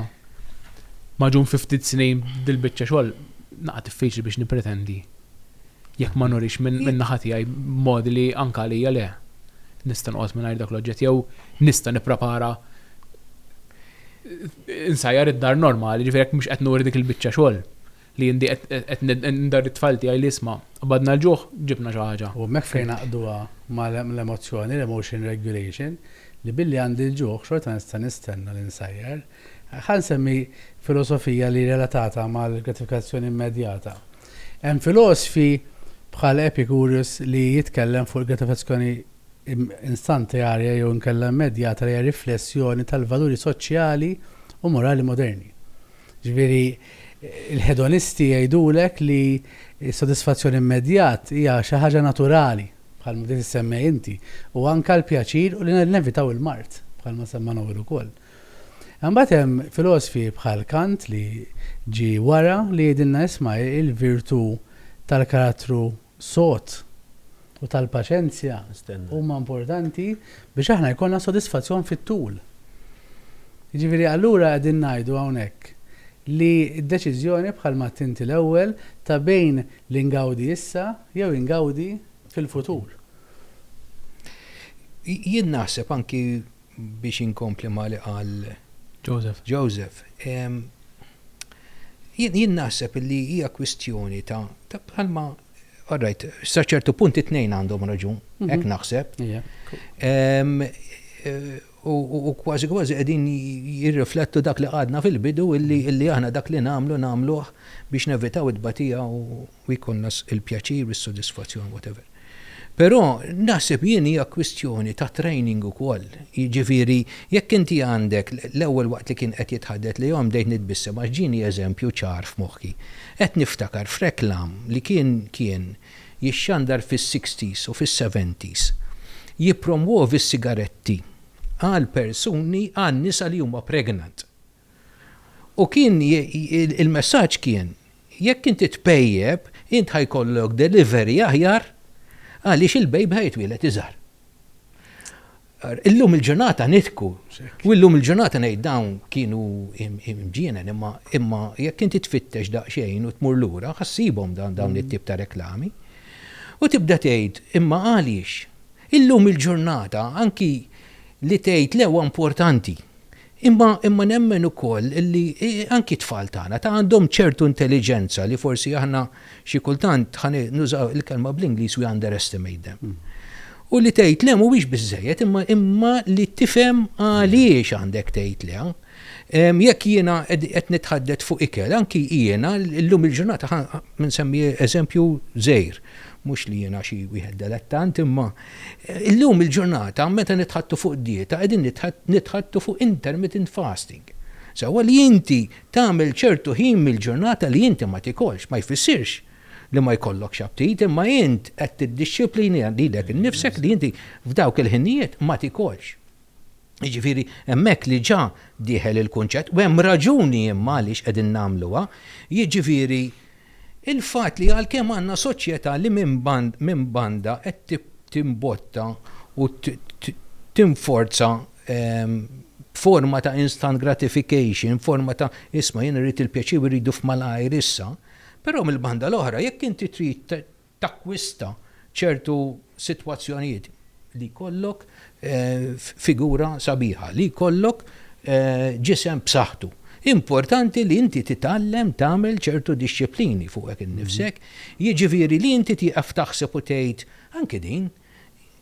maġun fi ftit snin dil-biċċa xogħol naqa' diffiċli biex nippretendi. Jekk ma nurix minn naħa tiegħi modi li anka għalija le nista' noqgħod mingħajr dak l-oġġett jew nista' nipprepara insajjar id-dar normali, ġifieri jekk mhux qed nuri dik il-biċċa xogħol li jien diq qed nindar it-tfal tiegħi li isma' qbadna l-ġuħ ġibna xi ħaġa. U hemmhekk fejn ngħaqqduha mal-emozzjoni, l-emotion regulation, li billi għandi l-ġuħ xorta nista' nistenna li nsajjar. Ħa nsemmi filosofija li relatata mal-gratifikazzjoni immedjata. Hemm filosfi bħal Epicurus li jitkellem fuq il-gratifikazzjoni instantearja jew inkella immedjata li hija riflessjoni tal-valuri soċjali u morali moderni. Ġifieri, il-hedonisti jgħidulek li s-sodisfazzjon immedjat hija xi ħaġa naturali, bħalma bdejt issemmej inti, u anke l-pjaċir u li nevitaw il-mard, bħalma semma Noel ukoll. Imbagħad hemm filosfi bħal Kant li ġie wara li jgħidilna isma' il-virtù tal-karattru sod u tal-paċenzja huma importanti biex aħna jkollna sodisfazzjon fit-tul. Jiġifieri allura qegħdin ngħidu hawnhekk li d-deċiżjoni bħalma għedt inti l-ewwel ta' bejn li ngawdi issa jew ingawdi fil-futur. Jien naħseb anki biex inkompli ma' li qal Joseph, Joseph, jien naħseb li hija kwistjoni ta' bħalma, all right, sa ċertu punt it-tnejn għandhom raġun, hekk naħseb, u kważi kważi qegħdin jirriflettu dak li qgħadna fil-bidu illi aħna dak li nagħmlu nagħmluh biex nevitaw it-tbatija u, u jkollna l-pjaċir u s-sodisfazzjon whatever. Però naħseb jien hija kwistjoni ta' training ukoll. Jiġifieri jekk inti għandek l-ewwel waqt li kien qed jitħaddet lejhom bdejt nitbissem għax ġieni eżempju ċar f'moħħi. Qed niftakar f'reklam li kien kien jixxandar fis-sixties u fis-seventies jippromwovi s-sigaretti għall-persuni għan-nisa li huma pregnant. U kien il-messaġġ kien, jekk inti tpejjep, int ħa jkollok delivery aħjar għaliex il-baby ħa jitwieled iżgħar. Illum il-ġurnata nidhku, u llum il-ġurnata ngħid dawn kienu mġienen imma jekk inti tfittex daqsxejn u tmur lura ħa ssibhom dawn it-tip ta' reklami. U tibda tgħid, imma għaliex? Illum il-ġurnata anki li tgħid le huwa importanti. Imma imma nemmen ukoll li anki t-tfal tagħna ta' għandhom ċertu intelliġenza li forsi aħna xi kultant ħa nużaw il-kelma bl-Ingliż we underestimate them. U li tgħid le mhuwiex biżżejjed imma imma li tifhem għaliex għandek tgħid le. Jekk jiena qed nitħaddet fuq ikel, anki jiena llum il-ġurnata ħa nsemmi eżempju żgħir, mhux li jiena xi wieħed delettant imma Illum il-ġurnata meta nitħaddtu fuq dieta qegħdin nitħaddtu fuq intermittent fasting. Sewwa li inti tagħmel ċertu ħin mill-ġurnata li inti ma tikolx ma jfissirx li ma jkollokx aptit imma int qed tiddixxiplina lilek innifsek li inti f'dawk il-ħinijiet ma tikolx. Jiġifieri hemmhekk li ġa dieħel il-kunċett u hemm raġuni imma għaliex qegħdin nagħmluha, jiġifieri Il-fatt li għalkemm għandna soċjetà li minn banda qed timbotta u tinforza forma ta' instant gratification, forma ta' isma' jien irrid il-pjaċir u rridu f'malajr issa, però mill-banda l-oħra jekk inti trid takkwista ċertu sitwazzjonijiet li jkollok figura sabiħa, li jkollok ġisem b'saħħtu. Importanti li inti titgħallem tagħmel ċertu dixxiplini fuqek innifsek, jiġifieri li inti tieqaf taħseb u tgħid, anke din,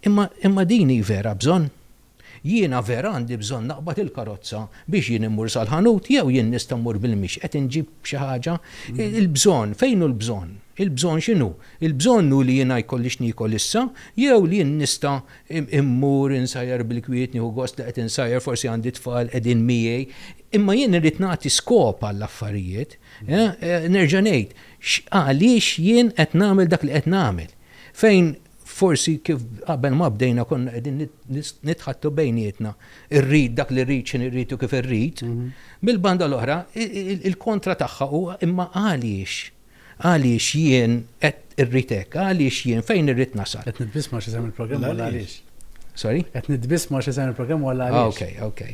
imma din hi vera bżonn? Jiena vera għandi bżonn naqbad il-karozza biex jien immur sal-ħanut jew jien nista' mmur bil-mixi qed inġib xi ħaġa? Il-bżonn, fejn hu l-bżonn? Il-bżonn x'inhu? Il-bżonn hu li jiena jkolli x'niekol issa jew li jien nista' mmur insajjar bil-kwiet, nieħu gost li qed insajjar, forsi għandi tfal qegħdin miegħi. Imma jien irrid nagħti skop għall-affarijiet. Nerġa' ngħid, għaliex jien qed nagħmel dak li qed nagħmel? Fejn Forsi kif qabel ma bdejna konna qegħdin nitħattu bejnietna, irrid dak li rrid x'inhi rrid u kif irrid, mill-banda l-oħra il-kontra tagħha huwa imma għaliex? Għaliex jien qed irrid hekk? Għaliex jien fejn irrid nasal? Qed nitbiss ma' x'isem il-programm u għaliex? Sorry? Qed nitbiss ma' x'isem il-programm u għaliex? Ah, okej, okej.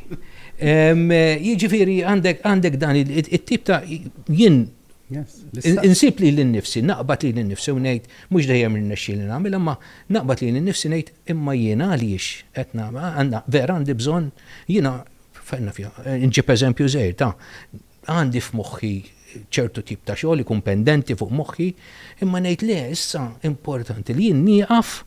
Jiġifieri għandek dan it-tip ta' jien Insib li l-nifsi, naqbad li l-nifsi u ngħid, mhux dejjem irnexxi li nagħmel, imma naqbad li l-nifsi ngħid, imma jiena għaliex qed nagħmel, vera għandi bżonn, jiena, nġib eżempju żgħir ta', għandi f'moħħi ċertu tip ta' xogħol ikun pendenti fuq moħħi, imma ngħid le, issa importanti li jien nieqaf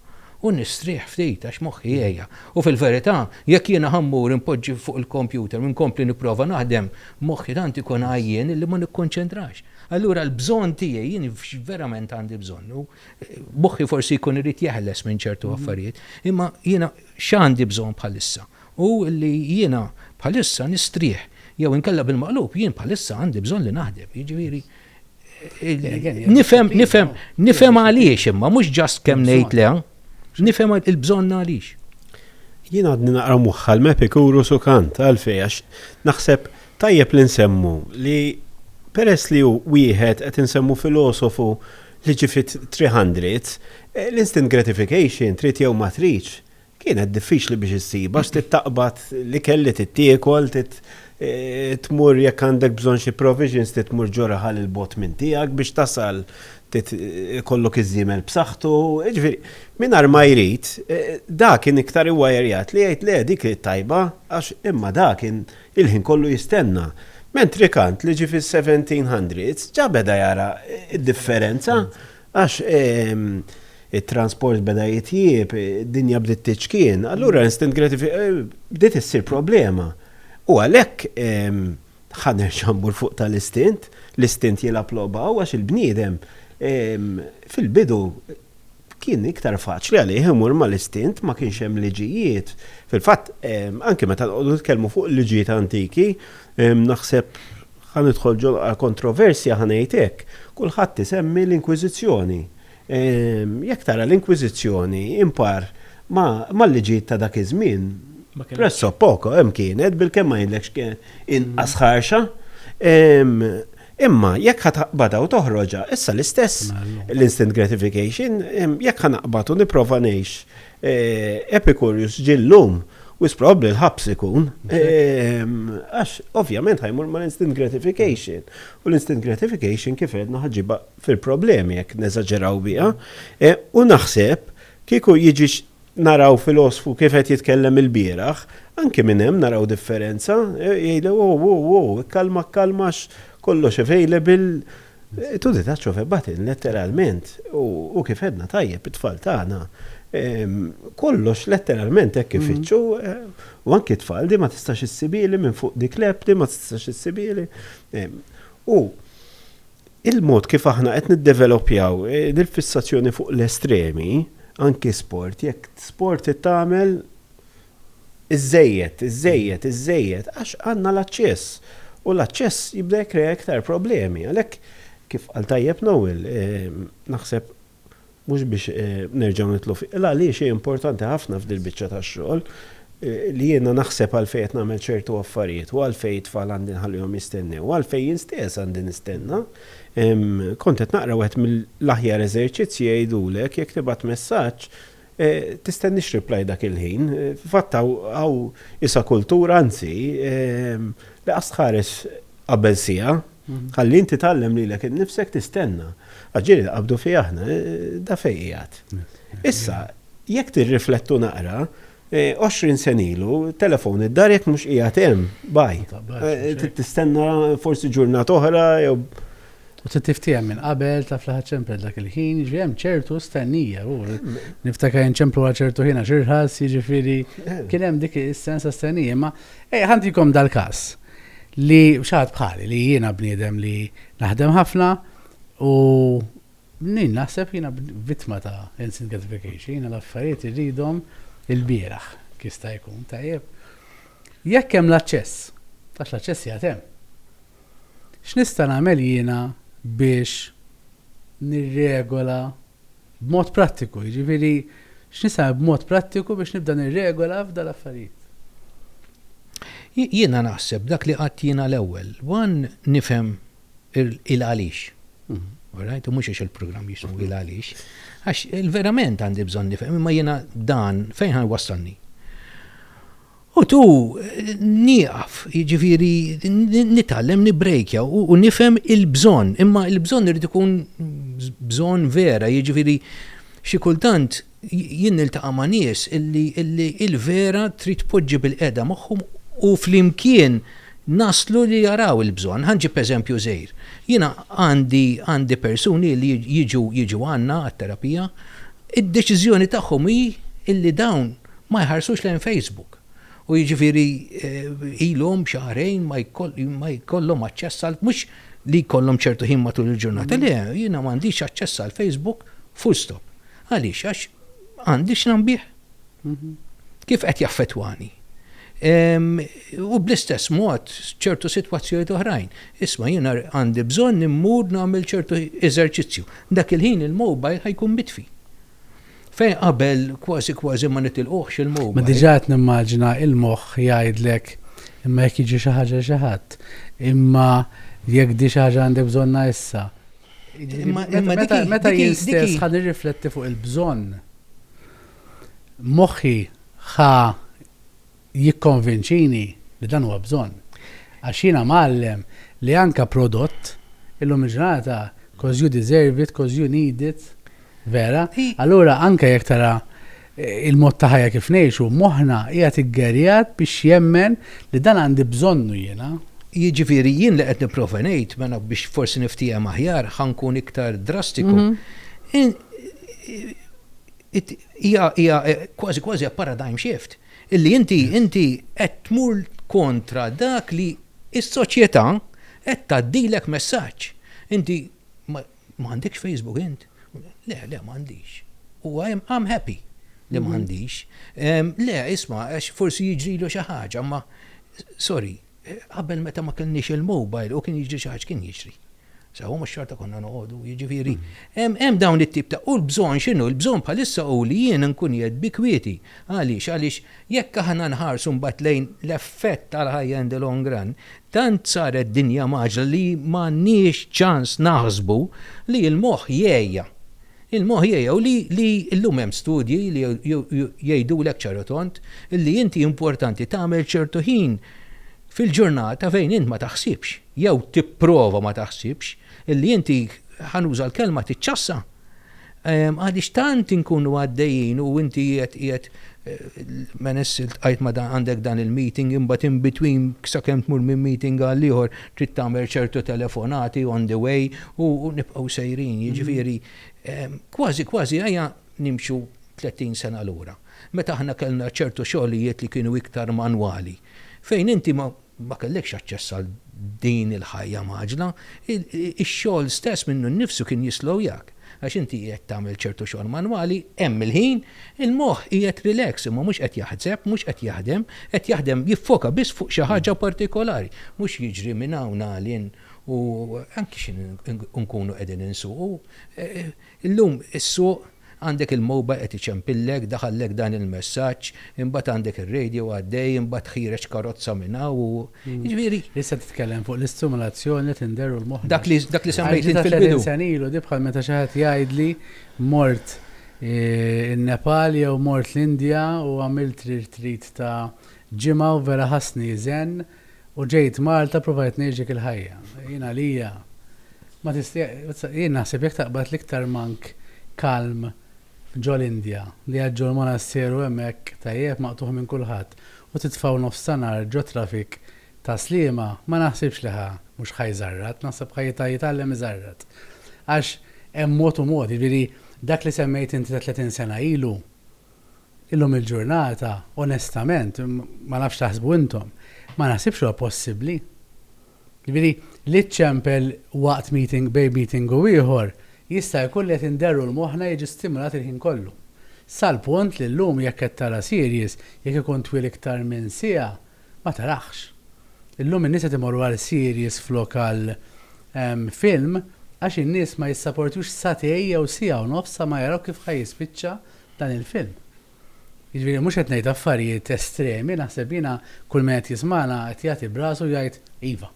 u nistrieħ ftit għax moħħi jgħejja. U fil-verità, jekk jiena ħammur inpoġġi fuq il-kompjuter u nkompli nipprova naħdem, Moħħi tant ikun għajjien li ma nikkonċentrax. Allura l-bżonn tiegħi, jien x'verament għandi bżonn? U moħħi forsi jkun irid jeħles minn ċertu affarijiet. Imma jiena x'għandi bżonn bħalissa? Hu li jiena bħalissa nistrieħ. Jew inkella bil-maqlub, jien bħalissa għandi bżonn li naħdem. Jiġifieri, Nifhem, nifhem, nifhem għaliex imma mhux ġast kemm ngħid le, nifhem il-bżonn għaliex. Jien għadni naqra moħħa l-Mepikuru Sukant għalfej għax naħseb tajjeb li nsemmu li peress li hu wieħed qed insemmu filosofu li ġi fit-300, eh, l-instant gratification trid jew ma tridx Kienet diffiċli biex issib għax trid taqbad l-ikel li trid tiekol, trid tmur jekk għandek bżonn xi provisions trid tmur ġo raħal 'il bogħod minn tiegħek biex tasal, trid ikollok iż-żiemel b'saħħtu. Jiġifieri, min għar ma jrid, dak kien iktar iwajerjat li jgħid le dik hi t-tajba għax imma dak kien il-ħin kollu jistenna. Mentrikant li ġie fis-seventeen hundreds ġa beda jara d-differenza Għax it-transport beda jitjieb, id-dinja bdiet tiċkien, allura instant gratification bdiet issir problema. U għalhekk ħa nerġa' mmur fuq tal-istint, l-istint jilgħab logħba u għax il-bniedem fil-bidu kien iktar faċli għalih imur mal-istint, ma kienx hemm liġijiet. Fil-fatt anki meta nqogħdu nitkellmu fuq il-liġijiet antiki, Naħseb, ħa nidħol ġol kontroversja ħa ngħid hekk, kulħadd isemmi l-Inkwiżizzjoni. Jekk tara l-Inkwiżizzjoni impar mal-liġijiet ta' dak iż-żmien, presso poco hemm kienet bilkemm ma jgħidlekx kien inqas ħarxa. Imma jekk ħa taqbadha u toħroġha, issa l-istess l-instant gratification, jekk ħa naqbad u nipprova ngħix Epicurius ġie llum, wisq probabbli l-ħabs ikun. Għax ovvjament ħa jmur mal-instant gratification. U l-instant gratification kif għedna ħa ġġibha fil-problemi jekk neżaġeraw biha. U naħseb kieku jiġi naraw filosfu kif qed jitkellem ilbieraħ, anki minn hemm naraw differenza, jgħidlek, Wow, wow, wow, ikkalmak kalma għax kollox available. Tu di taċċo febbatin letteralment u kif għedna tajjeb it-tfal tagħna kollox letteralment hekk ifittxu u anki t-tfal di ma tistax issibili minn fuq dik l-app di ma tistax issibili. U il-mod kif aħna qed niddevelopjaw dil-fissazzjoni fuq l-estremi anki sport jekk sport tagħmel iżżejjed, iżżejjed, iżżejjed, għax għandna l-aċċess. U l-aċċess jibda jikkrea iktar problemi. Għalhekk, kif qal tajjeb Noel, naħseb mhux biex nerġgħu nidħlu fi, il għaliex hi importanti ħafna f'dil-biċċa tax-xogħol li jiena naħseb għalfejn qed nagħmel ċertu affarijiet u għalfejn it-tfal għandi nħallihom jistennew u għalfejn jien stess għandi nistenna. Kont qed naqra wieħed mill-aħjar eżerċizzji jgħidulek jekk tibgħat messaġġ Tistennix reply dak il-ħin. Fil-fatt hawn isa kultura, anzi, li qas tħares qabel siegħa, ħalli inti tgħallem lilek innifsek tistenna. Għax ġieli nqabdu fih aħna, da fejn qiegħed. Issa, jekk tirriflettu naqra, għoxrin sena ilu, telefon id-dar jekk mhux qiegħed hemm, bye. Trid tistenna forsi ġurnata oħra jew. U trid tiftiehem minn qabel, taf li ħaċċempel dak il-ħin, jiġifieri hemm ċertu stennija. U niftakar inċemplu għal ċertu ħin għax irħas, jiġifieri kien hemm dik is-sens ta' stennija. Imma ej ħantikom dal-każ li xaħat bħali li jiena bniedem li naħdem ħafna u nin naħseb jiena vittma ta' instant gratification, jiena l-affarijiet irridhom il-bieraħ kista jkun tajjeb. Jekk hemm l-aċċess, għax l-aċċess jagħtem. X'nista' nagħmel jiena biex nirregola b'mod prattiku? Jiġifieri, x'nista' nagħmel b'mod prattiku biex nibda nirregola f'dan l-affarijiet? Jiena naħseb dak li għidt jiena l-ewwel, one nifhem il-għaliex. All right? U mhux għax il-programm jismu il-għaliex. Għax verament għandi bżonn nifhem, imma jiena dan fejn ħa jwassalni? U tu, nieqaf, jiġifieri nitgħallem nibbrejkja u nifhem il-bżonn, imma l-bżonn irid ikun bżonn vera, jiġifieri xi kultant jien niltaqa' ma' nies illi l-vera trid tpoġġi bilqiegħda magħhom u flimkien naslu li jaraw il-bżonn. Ħa nġib eżempju żgħir. Jiena għandi persuni li jiġu għandna għat-terapija, id-deċiżjoni tagħhom hi illi dawn Ma jħarsux lejn Facebook u jiġifieri ilhom xahrejn ma jkollhom aċċess għal, mhux li jkollhom ċertu ħin matul il-ġurnata, le, jiena m'għandix aċċess għal Facebook full stop. Għaliex? Għax għandi x'nambih. Kif qed jaffettwani? U bl-istess mod ċertu sitwazzjonijiet oħrajn. Isma' jiena għandi bżonn immur nagħmel ċertu eżerċizzju. Dak il-ħin il-mobile ħa jkun mitfi. Fejn qabel kważi kważi ma nitilquhx il-mowbajl. Ma diġà qed nimmaġina il-moħħ jgħidlek imma jekk jiġi xi ħaġa lil xi ħadd, imma jekk di xi ħaġa għandek bżonnha issa. Meta jien stess ħa nirrifletti fuq il-bżonn, moħħi ħa jikkonvinċini li dan huwa bżonn. Għax jiena mgħallem li anke prodott illum il-ġurnata cos you deserve it, cos you need it, vera? Allura anke jekk tara il-mod ta' ħajja kif ngħixu, moħħna qiegħed iggerjat biex jemmen li dan għandi bżonnu jiena. Jiġifieri jien li qed nipprova ngħid, mela biex forsi niftiehem aħjar, ħa nkun iktar drastiku, hija kważi kważi a paradigm shift. Illi inti, inti qed tmur kontra dak li s-soċjetà qed tgħaddilek messaġġ. Inti ma għandekx Facebook int? Le, le, ma għandix. U I am happy li ma għandix. Le, isma' għax forsi jiġrilu xi ħaġa, ma sorry. Qabel meta ma kellniex il-mobile u kien jiġri xi ħaġa kien jiġri. Sewa mhux xorta konna noqogħdu, jiġifieri hemm dawn it-tip ta' u l-bżonn x'inhu? Il-bżonn bħalissa hu li jien nkun qiegħed bi kwieti. Għaliex? Għaliex jekk aħna nħarsu mbagħad lejn l-effett tal-ħajja in the long run, tant saret dinja mgħaġġla li m'għandniex ċans naħsbu li l-moħħ jegħja. Il-moħħ jgħu li li llum hemm studji li jgħidulek ċar u tond li inti importanti tagħmel ċertu ħin fil-ġurnata fejn int ma taħsibx, jew tipprova ma taħsibx, li inti, ħa nuża l-kelma, tiċċassa. Għaliex tant inkunu għaddejjin u inti qiegħed qiegħed menes iltqajt ma dan għandek dan il-meeting imbagħad in between sakemm tmur minn meeting għal ieħor trid tagħmel ċertu telefonati on the way u nibqgħu sejrin, jiġifieri kważi kważi ejja nimxu 30 sena lura. Meta aħna kellna ċertu xogħlijiet li kienu iktar manwali, fejn inti ma kellekx aċċess għal din il-ħajja mgħaġġla, ix-xogħol stess minnu nnifsu kien jislowjak. Għax inti qiegħed tagħmel ċertu xogħol manwali, hemm il-ħin, il-moħħ qiegħed relax, imma mhux qed jaħseb, mhux qed jaħdem, qed jaħdem jiffoka biss fuq xi ħaġa partikolari. Mhux jiġri minn hawn għal hinn u anki xi nkunu qegħdin insuqu. Illum issuq, għandek il-mobile qed iċempillek, daħallek dan il-messaġġ, imbagħad għandek ir-radio għaddej, imbagħad tħiereġ karozza minn hawn u. Jiġifieri. Issa titkellem fuq l-istimulazzjoni li tindeher u l-moħħ. Dak li dak li semmejt int fil-bidu. Senilu di bħal meta xi ħadd jgħidli mort eh, in-Nepal jew mort l-Indja u għamilt trit ta' ġimgħa u vera ħassni zen u ġejt Malta provajt ngħixek il-ħajja. Jien għalija ma tista' jien naħseb jekk taqbad l-iktar mank kalm ġol Indja li għadġol monasteru hemmhekk tajjeb maqtuħ minn kulħadd. u titfgħu nofs ta' nhar ġo traffic ta' Sliema ma naħsibx li ħa mhux ħa jżarrat, naħseb ħa jitgħallem iżarrat. Għax hemm mod u mod, jiġifieri dak li semmejt inti ta' 30 sena ilu, illum il-ġurnata onestament, ma nafx x'taħsbu intom, ma naħsibx li huwa possibbli. Jiġifieri, li ċċempel waqt meeting bejn meeting u ieħor jista' jkun li qed inderru l-moħħna jiġi stimulat il-ħin kollu. Sal-punt li llum jekk qed tara series, jekk ikun twil iktar minn siegħa, ma tarahx. Illum in-nies qed imorru għal series flok għal film għax in-nies ma jissaportux satej jew siegħa u nofs sa ma jaraw kif ħa jispiċċa dan il-film. Jiġifieri mhux qed ngħid affarijiet estremi, naħseb jiena kull min qed jismagħna qed jagħti b'rasu u jgħid iva.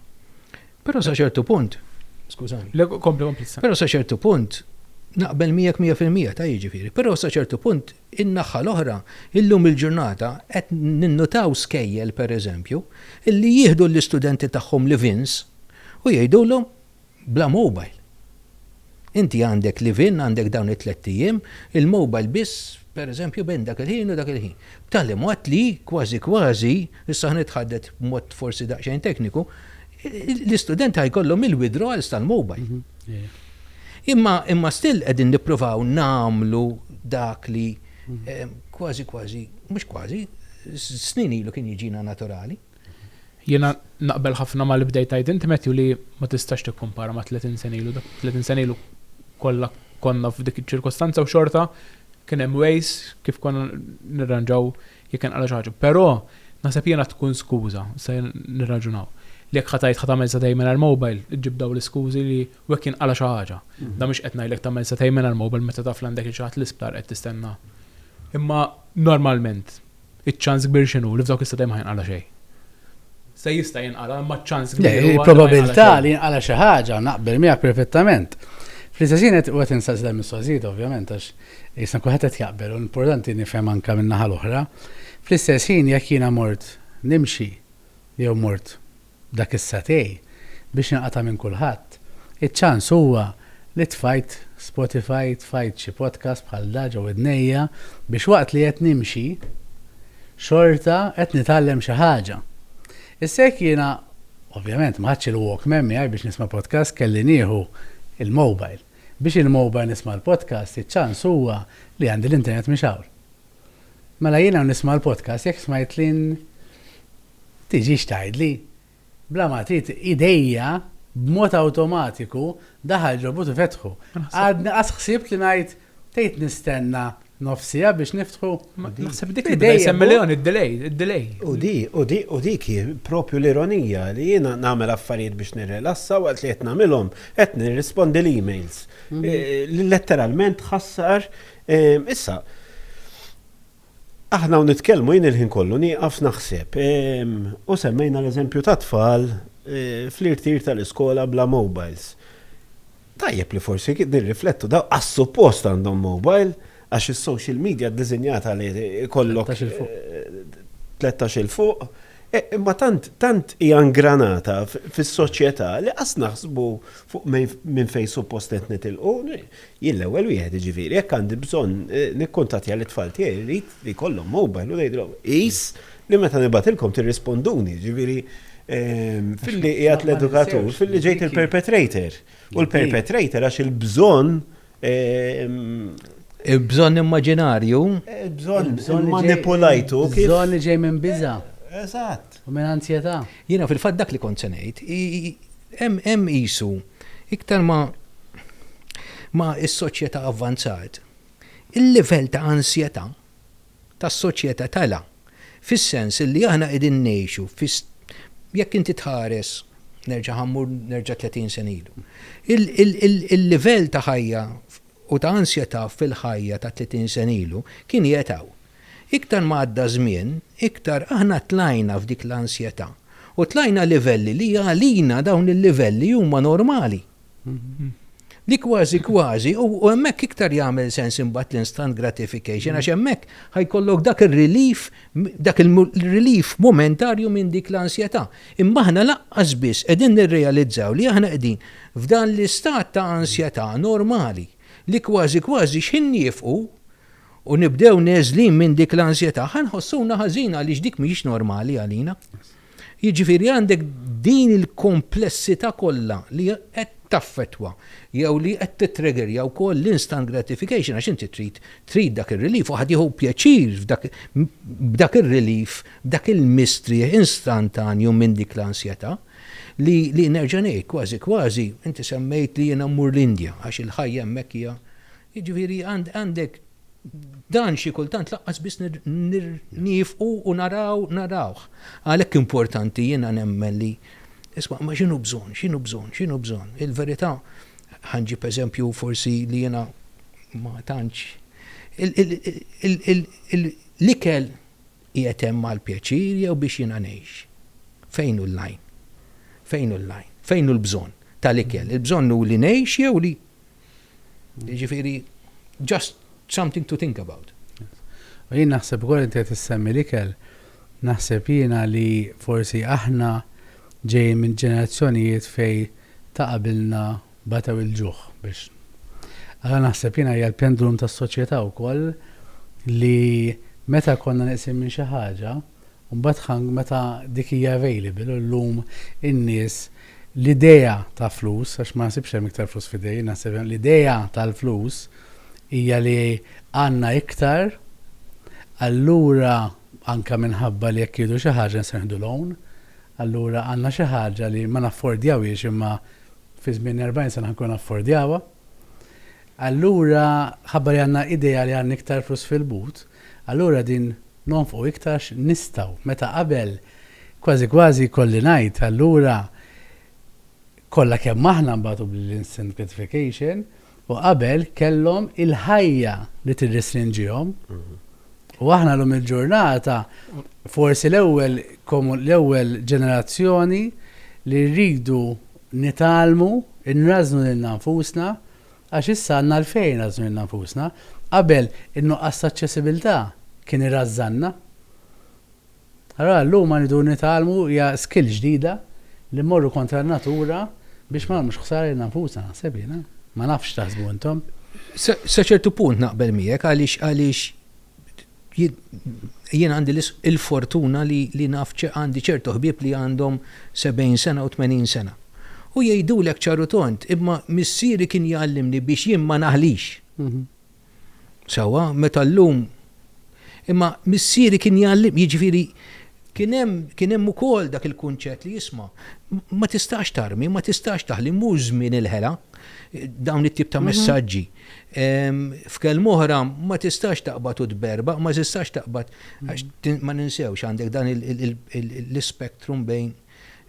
Però sa ċertu punt, skużani. Le, kompli, kompli issa. Però sa ċertu punt naqbel miegħek mija fil-mija ta' jiġifieri, però sa ċertu punt in-naħħa l-oħra illum il-ġurnata qed ninnutaw skejjel pereżempju illi jieħdu l-istudenti tagħhom livins u jgħidulhom Bla mobile. Inti għandek live in, għandek dawn it-tlett ijiem, il-mobile biss pereżempju bejn dak il-ħin u dak il-ħin. B'tali mod li, kważi kważi, issa ħa nitħaddet b'mod forsi daqsxejn tekniku, l-istudenti ħa jkollhom il-withdrawals tal-mobile. Imma imma still qegħdin nippruvaw nagħmlu dak li kważi kważi, mhux kważi, snin ilu kien jiġina naturali. Jiena naqbel ħafna ma' li bdejt tgħid int Matthew li ma tistax tikkumpara ma' tletin sena ilu. Dak tletin sena ilu kollha konna f'dik iċ-ċirkostanza u xorta kien hemm ways kif konna nirranġaw jekk inqala' xi ħaġa. Però naħseb jiena tkun skuża, se nirraġunaw, li jekk ħa tgħid ħa tagħmel setgħin mingħajr mobile iġġib dawn l-iskużi li u jekk jinqala' xi ħaġa. Dan mhux qed ngħidlek tagħmel setgħin mingħajr mobile meta taf li għandek lil xi ħadd l-isptar qed tistenna. Imma normalment Iċ-ċans kbir x'inhu? Li f'dawk is-sitt ijiem ma jinqala' xejn. Se jista' jinqala' imma ċ-ċans kbir huwa li ma jinqala' xejn. Le, il-probabilità li jinqala' xi ħaġa naqbel miegħek perfettament. Fl-istess ħin qed u qed insaqsi dal-mistoqsijiet ovvjament għax isna kulħadd qed jaqbel u l-importanti nifhem anke min-naħa l-oħra. Fl-istess ħin jekk jiena mort nimxi jew mort Dak is-satej, biex inqata' minn kulħadd, iċ-ċans huwa li tfajt Spotify, tfajt xi podcast bħal da ġo widnejja biex waqt li qed nimxi, xorta qed nitgħallem xi ħaġa. Issa jekk jiena, ovvjament, ma ħadtx il-Walkman miegħi biex nisma' podcast kelli nieħu l-mobile. Biex il-mobile nisma' l-podcast, iċ-ċans huwa li għandi l-internet mixgħul. Mela jien hawn nisma' l-podcast jekk smajt lin tiġix tgħidli. Bla ma trid idejja b'mod awtomatiku daħal ġobut u fetħu. Għadni qas ħsibt li ngħid tgħid nistenna nofsija biex niftħu. Naħseb dik idejja semmiljon id-delay, id-delay. U di, u di, u dik propju l-ironija li jiena nagħmel affarijiet biex nirrelassa waqt li qed nagħmilhom qed nirrispondi l-emails. Mhm. Eh, letteralment ħassar Issa, aħna hawn nitkellmu jien il-ħin kollu nieqaf naħseb u semmejna l-eżempju tat-tfal fl-irtir tal-iskola bla mobiles. Tajjeb li forsi nirriflettu daw għas-suppost għandhom mobile għax is-social media ddisinjata li jkollok 13 'il fuq, imma tant hija ngranata fis-soċjetà li qas naħsbu fuq minn fejn suppost qed nitilqu. Jien l-ewwel wieħed, jiġifieri, jekk għandi bżonn nikkuntattja lit-tfal tiegħi rrid li jkollhom mobile u ngħidilhom qis li meta nibgħatilkom tirrisponduni, jiġifieri filli qiegħed l-edukatur, filli ġejt il-perpetrator. U l-perpetrator għax il-bżonn Il-bżonn immaġinarju. Il-bżonn manipulajtu. Il-bżonn li ġej minn biża'. Eżatt. U minn anzjetà? Jiena fil-fatt dak li kont se ngħid. Hemm qisu iktar ma ma s-soċjetà avvanzat, il-livell ta' ansjetà tas-soċjetà tela', fis-sens li aħna qegħdin ngħixu fi jekk inti tħares nerġa' ħa mmur nerġa' 30 sena ilu. Il-livell ta' ħajja u ta' ansjetà fil-ħajja ta' 30 sena ilu kien jgħethaw. Iktar ma għadda żmien, iktar aħna tlajna f'dik l-ansjetà u tlajna livelli li għalina dawn il-livelli huma normali. Li kważi kważi, u hemmhekk iktar jagħmel sens imbagħad l-instant gratification għax hemmhekk ħa jkollok dak ir-relief, dak il-relief momentarju minn dik l-ansjetà. Imma aħna lanqas biss qegħdin nirrealizzaw li aħna qegħdin f'dan l-istat ta' ansjetà normali li kważi kważi x'ħin niefqu u nibdew neżlin minn dik l-ansjetà, ħa nħossuna ħażin għaliex dik mhijiex normali għalina. Jiġifieri għandek din il-komplessità kollha li qed taffettwa jew li qed titregerja wkoll l-instant gratification għax inti trid trid dak ir-relief u ħadd jieħu pjaċir b'dak ir-relief, b'dak il-mistrieħ instantanju minn dik l-ansjetà li li nerġa' ngħid kważi kważi inti semmejt li jiena mmur l-Indja għax il-ħajja hemmhekk hija Jiġifieri għandek dan xi kultant lanqas biss niefqu u naraw narawh. Għalhekk importanti jiena nemmen li isma' ma x'inhu bżonn, x'inhu bżonn, x'inhu bżonn. Il-verità ħa nġib eżempju forsi li jiena ma tantx l-ikel qiegħed hemm għall-pjaċir jew biex jiena ngħix? Fejn hu l-għajn? Fejn hu l-għajn? Fejn hu l-bżonn tal-ikel? Il-bżonn hu li ngħix jew li Jiġifieri just something to think about. U jien naħseb ukoll inti qed issemmi l-ikel, naħseb jiena li forsi aħna ġejjin minn ġenerazzjonijiet fejn ta' qabilna batew il-ġuħ biex. Allura naħseb jiena hija l-pendulum tas-soċjetà wkoll li meta konna neqsin minn xi ħaġa, Mbagħad ħank meta dik hija available u llum in-nies l-idea ta' flus, għax ma naħsibx hemm iktar flus f'idejn, naħseb l-idea tal-flus hija li għandna iktar, allura anke minħabba li jekk jieħdu xi ħaġa nistgħu nieħdu loan, allura għandna xi ħaġa li ma naffordjawhiex imma fi żmien 40 sena ħankunu naffordjawha. Allura ħabba li għandna idea li għandna iktar flus fil-but, Allura din nonfqu iktarx nistgħu, meta qabel kważi kważi jkolli ngħid allura kollha kemm aħna nbagħtu bl-incentivfication u qabel kellhom il-ħajja li tirrestrinġihom u aħna llum il-ġurnata forsi l-ewwel l-ewwel ġenerazzjoni li rridu nitgħallmu nrażżnu lilna nfusna Għax issa għandna għalfejn nrażżnu lilna nfusna. Qabel, in-nuqqas ta' aċċessibilità kien irażżanna. Allura llum ma rridu nitgħallmu hija skill ġdida li mmorru kontra n-natura biex ma nagħmlux ħsara lilna nfusna, naħseb jien, eh? Ma nafx x'taħsbu intom. Sa ċertu punt naqbel miegħek għaliex għaliex Jien għandi l-fortuna li naf għandi ċertu ħbieb li għandhom 70 sena u 80 sena. U jgħidulek ċar u tond, imma missieri kien jgħallimni biex jien ma naħlix. Sewwa, meta llum imma missieri kien jgħallimni, jiġifieri kien hemm ukoll dak il-kunċett li isma' ma tistax tarmi, ma tistax taħli, mhux żmien il-ħela, dawn it-tip ta' messaġġi. F'kelma oħra, ma tistax taqbad u tberbaq, ma tistax taqbad, għax ma ninsewx għandek dan l-ispektrum bejn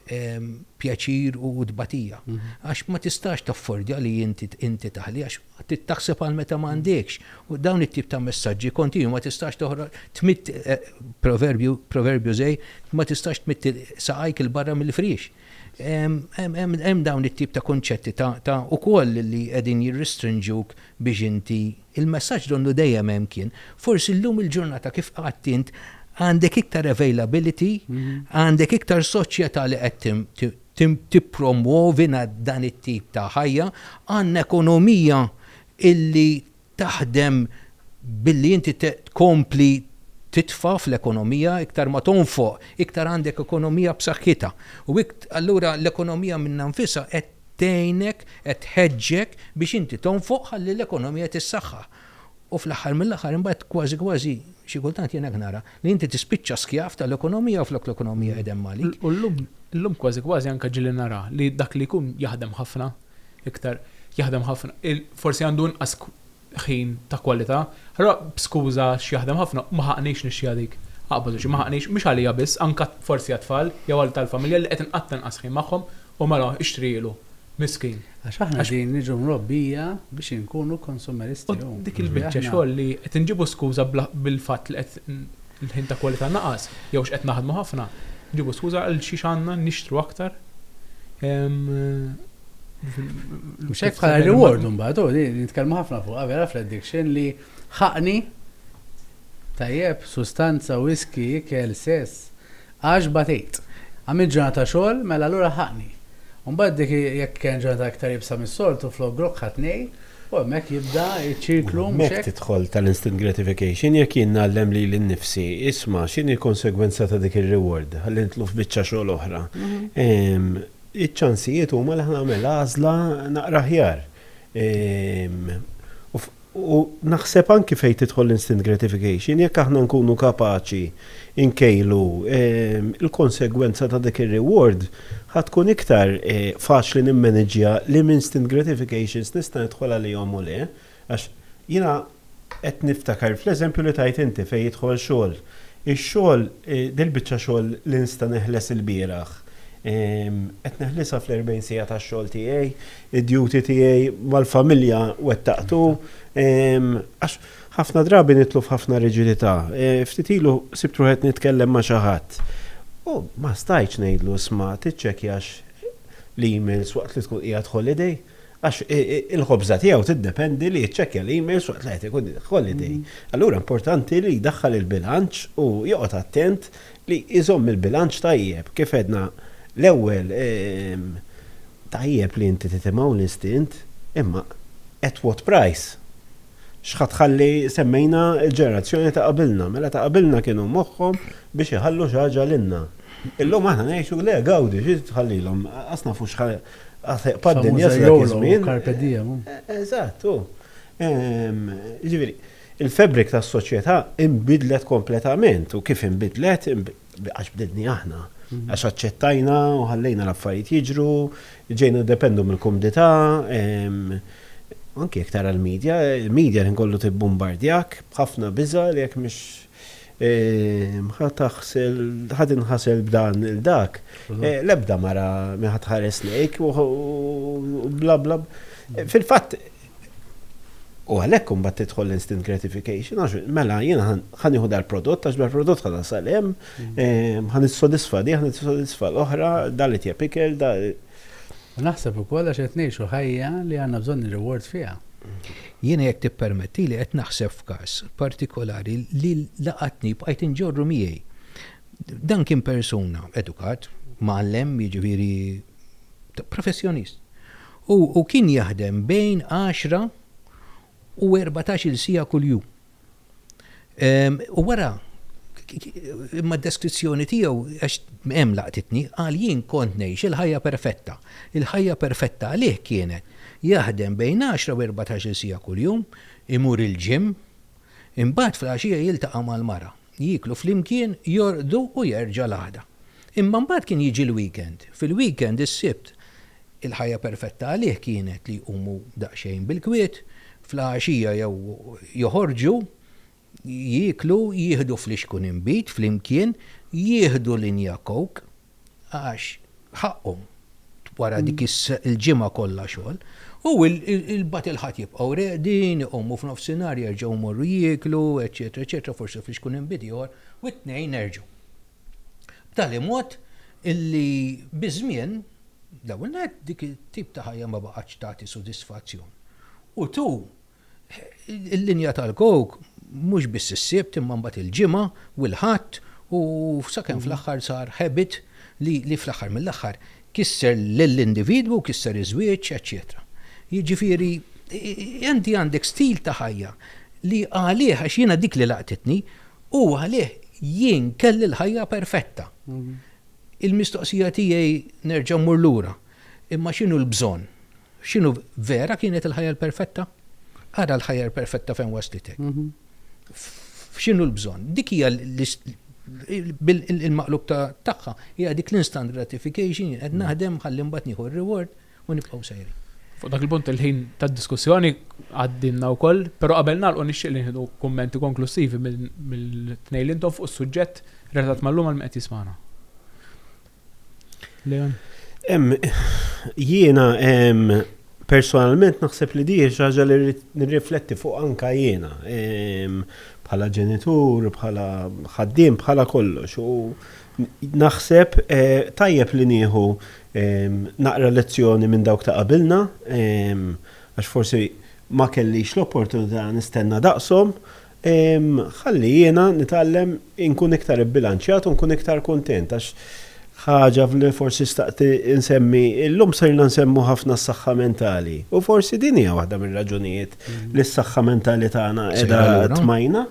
pjaċir u tbatija. Mhm. Għax ma tistax taffordja li inti taħli, għax taħseb għal meta ma għandekx. U dawn it-tip ta' messaġġi kontinu ma tistax toħra tmitt eh, proverbju zej, ma tistax tmitt saqajk il-barra mill-friex. Hemm dawn it-tip ta' kunċetti ta' ukoll li qegħdin jirrestrinġuk biex inti. Il-messaġġ donnu dejjem hemm kien. Forsi llum il-ġurnata kif qgħadt int għandek iktar availability, għandek iktar soċjetà li qed tippromwovi dan it-tip ta' ħajja, għandna ekonomija illi taħdem billi inti tkompli titfa' fl-ekonomija, iktar ma tonfoq, iktar għandek ekonomija b'saħħitha. U allura l-ekonomija minnha nfisha qed tgħinek, qed tħeġġek biex inti tonfoq ħalli l-ekonomija tissaħħaħ. U fl-aħħar mill-aħħar imbagħad kważi kważi, xi kultant jien hekk nara, li inti tispiċċa skjav tal-ekonomija flok l-ekonomija qegħda hemm għalik. U llum, llum kważi kważi anke ġieli nara li dak li jkun jaħdem ħafna, iktar jaħdem ħafna, forsi għandu inqas ħin ta' kwalità, allura b'skuża għax jaħdem ħafna, ma ħaqnix nixxiha dik. Aqbad u xi, ma ħaqnix, mhux għalija biss, anke forsi għat-tfal jew għal tal-familja li qed inqatta' inqas ħin magħhom u mela ixtrihielu. Miskin. Għax aħna qegħdin niġu mrobbija biex inkunu konsumeristi. U dik il-biċċa xogħol li qed inġibu skuża bil-fatt li qed l-ħin ta' kwalità naqas jew x'qed naħdmu ħafna, nġibu skuża għal xiex għandna nixtru aktar. Mhux hekk bħala reward imbagħad, u li nitkellmu ħafna fuqha vera fl-addiction li ħaqni tajjeb, sustanza, whisky, ikel, sess, Għax batejt. Għamilt ġurnata xogħol, mela allura ħaqni. U mbagħad dik jekk kienet ġurnata iktar iebsa mis-soltu, flok grokk ħadt nej, u hemmhekk jibda ċ-ċirklu, mhux hekk? U hemmhekk tidħol tal-instant gratification, jekk jien ngħallem lili nnifsi, isma', x'inhi l-konsegwenza ta' dik ir-reward? Ħalli nidħlu f'biċċa xogħol oħra. Iċ-ċansijiet huma li ħa nagħmel għażla naqra aħjar. U naħseb anki fejn tidħol l-instant gratification, jekk aħna nkunu kapaċi nkejlu l-konsegwenza ta' dik ir-reward, ħa tkun iktar faċli nimmaniġġja liema instant gratifications nista' nidħol għalihom u le. Għax jiena qed niftakar fl-eżempju li tajt inti fejn jidħol xogħol. Ix-xogħol, dil-biċċa xogħol li nista' neħles ilbieraħ, qed neħlisha fl-erbgħin siegħa tax-xogħol tiegħi, Id-duty tiegħi mal-familja wettaqtu, għax ħafna drabi nitlu f'ħafna riġidità. Ftit ilu sibt ruħi qed nitkellem ma' xi ħadd u ma stajtx ngħidlu isma' tiċċekkjax l-emails waqt li tkun qiegħed holiday, għax il-ħobża tiegħu tiddependi li jiċċekkja l-emails waqt li qed ikun holiday. Allura importanti li jdaħħal il-bilanċ u joqgħod attent li jżomm il-bilanċ tajjeb, kif għedna l-ewwel, tajjeb li inti titimgħu l-instint, imma at what price? X'ħa tħalli, semmejna l-ġenerazzjoni ta' qabilna, mela ta' qabilna kienu moħħhom biex iħallu xi ħaġa lilna. Illum aħna ngħixu, le gawdi, xi tħallilhom, qas nafu x'ħa ħseqpa d-dinja sa dak iż-żmien. Carpe diem. Eżatt, hu. Jiġifieri. Il-fabbric tas-soċjetà inbidlet kompletament u kif inbidlet, għax bdilni aħna. Għax aċċettajna u ħallejna l-affarijiet jiġru, ġejna niddependu mill-kumdità, anki jekk tara l-media, il-media l-ħin kollu tibbumbardjak b'ħafna biża' li jekk mhix. Ehm, ħa taħsel, ħa tinħasel b'dan il-dak. Mhm. Eh, l-ebda mara ma ħa tħares lejk u bla bla. Eh, fil-fatt, u għalhekk imbagħad tidħol instant gratification għax mela jiena ħan iħu dal-prodott għax dal-prodott ħana salem, mhm. ehm, ħan issodisfa di, ħan issodisfa l-oħra, dal-it pikel, dal U naħseb ukoll għax qed ngħixu ħajja li għandna bżonn ir-reward fiha. Jiena jekk tippermettili qed naħseb f'każ partikolari li laqatni, bqajt inġorru miegħi. Dan kien persuna edukat, mgħallem, jiġifieri professjonist. U kien jaħdem bejn għaxra u erbatax-il siegħa kuljum. U wara, imma d-deskrizzjoni tiegħu, għax hemm laqtitni, qal jien kont ngħix il-ħajja perfetta. Il-ħajja perfetta għalih kienet jaħdem bejn għaxra u erbatax-il siegħa kuljum, imur il-gym, imbagħad fl-għaxija jiltaqa' mal-mara. Jieklu flimkien, jorqdu u jerġa' l-għada. Imma mbagħad kien jiġi l-weekend. Fil-weekend, is-Sibt, il-ħajja perfetta għalih kienet li jqumu daqsxejn bil-kwiet, fl-għaxija jew joħorġu, jieklu, jieħdu flixkun inbid flimkien, jieħdu linja Coke. għax ħaqqhom wara dik il-ġimgħa kollha xogħol, u il-bat il-ħadd jibqgħu reqdin, iqumu f'nofsinhar jerġgħu jmorru jieklu, eċċetera, eċċetera, forsi fiex ikun hemm bidjar, u t-tnejn nerġgħu. B'tali mod illi biż-żmien, l-ewwel nett dik it-tip ta' ħajja ma baqgħetx tagħti sodisfazzjon. U tu Il-linja tal-kowk mhux biss is-Sibt imma mbagħad il-Ġimgħa u l-Ħadd u sakemm fl-aħħar sar habit li fl-aħħar mill-aħħar kisser lill-individwu, kisser iż-żwieġ, eċċetera. Jiġifieri inti għandek stil ta' ħajja li għalih, għax jiena dik li laqtitni, u għalih jien kelli l-ħajja perfetta. Il-mistoqsija tiegħi nerġa' mmur lura. Imma x'inhu l-bżonn? X'inhu vera kienet il-ħajja l-perfetta? Ara l-ħajja l-perfetta fejn waslitek. F'x'inhu l-bżonn? Dik hija bil-maqlub tagħha hija dik l-instant gratification jien qed naħdem ħalli mbagħad nieħu r-reward u nibqgħu sejrin. Fuq dak il-punt il-ħin tad-diskussjoni għaddinna wkoll, però qabel nagħlqu nixtieq li nieħdu kummenti konklussivi mill-tnejn li intom fuq is-suġġett relatat mal-lum għal min qed jismagħna. Jiena personalment naħseb li diħi xaġa li nirrifletti fuq anka jiena bħala ġenitur, bħala ħaddim, bħala kollox. U naħseb eh, tajjeb li nieħu naqra lezzjoni minn dawk ta' qabilna, għax forsi ma kellix l-opportunità nistenna daqsom, Ħalli jiena nitgħallem inkun iktar ibbilanċjat u nkun iktar kuntent għax ħaġa li forsi xtaqt insemmi, illum sirna nsemmu ħafna s-saħħa mentali. U forsi din hija waħda mir-raġunijiet li s-saħħa mentali tagħna qiegħda tmajna.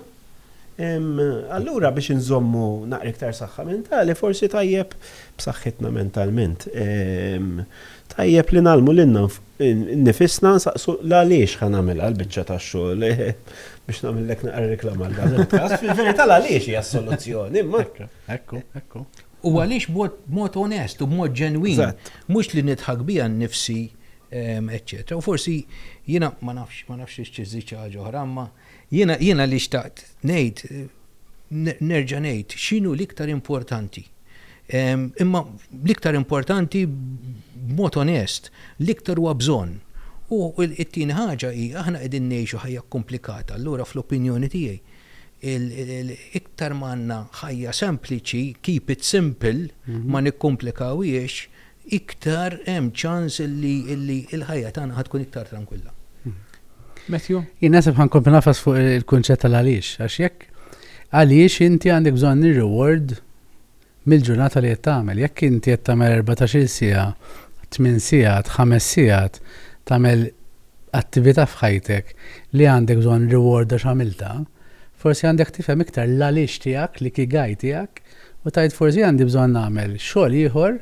Allura biex inżommu naqra iktar saħħa mentali forsi tajjeb b'saħħitna mentalment. Tajjeb li ngħallmu lilna. Nnifisna nsaqsu l-għaliex ħa nagħmilha l-biċċa tax-xogħol biex nagħmillek naqra reklama għal dan il-każ. Fil-verità l-għaliex hija s-soluzzjoni, imma. Ekku, ekku. U għaliex b'mod onest u b'mod ġenwin, mhux li nidħak biha nnifsi, eċċetera. U forsi jiena ma nafx, ma nafx xi ċiżżid xi ħaġa oħra, imma. Jiena, jiena li xtaqt ngħid, nerġa' ngħid, x'inhu l-iktar importanti. Imma l-iktar importanti b'mod onest, l-iktar huwa bżonn. U t-tieni ħaġa hi, aħna qegħdin ngħixu ħajja kkumplikata, allura fl-opinjoni tiegħi, iktar ma għandna ħajja sempliċi, keep it simple, ma nikkumplikawhiex, iktar hemm ċans li l-ħajja tagħna ħad tkun iktar trankwilla. Matthew? Jien nasib ħankun nafas fuq il-kunċett tal-għaliex, għax jekk għaliex inti għandek bżonn ir-reward mill-ġurnata li qed tagħmel. Jekk inti qed tagħmel 14-il siegħa, 8 sigħat, 5 sigħat, tagħmel attività f'ħajtek li għandek bżonn reward għax għamilta, forsi għandek tifhem iktar l-għaliex tiegħek, li kigaj tiegħek, U tgħid forsi għandi bżonn nagħmel xogħol ieħor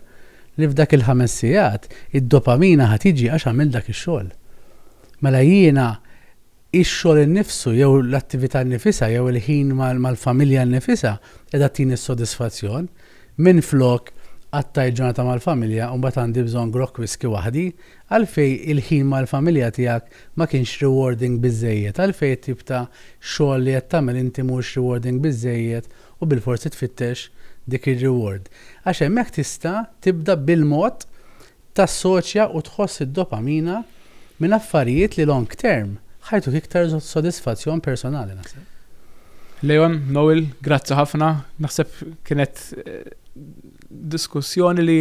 li f'dak il-ħames sigħat id-dopamina ħa tiġi għax għamilt dak ix-xogħol. Mela jiena ix-xogħol innifsu jew l-attività nnifisha jew il-ħin mal-familja nnifisha qiegħda tini s-sodisfazzjon minflok qattajt ġurnata mal-familja u mbagħad għandi bżonn grokk whiskey waħdi, għalfejn il-ħin mal-familja tiegħek ma kienx rewarding biżżejjed, għalfejn it-tip ta' xogħol li qed tagħmel inti mhuwiex rewarding biżżejjed, u bilforsi tfittex dik ir-reward għax hemmhekk tista' tibda bil-mod tassoċja u tħoss id-dopamina minn affarijiet li long term ħajtuk iktar sodisfazzjon personali naħseb. Leon, Noel, grazzi ħafna, naħseb kienet diskussjoni li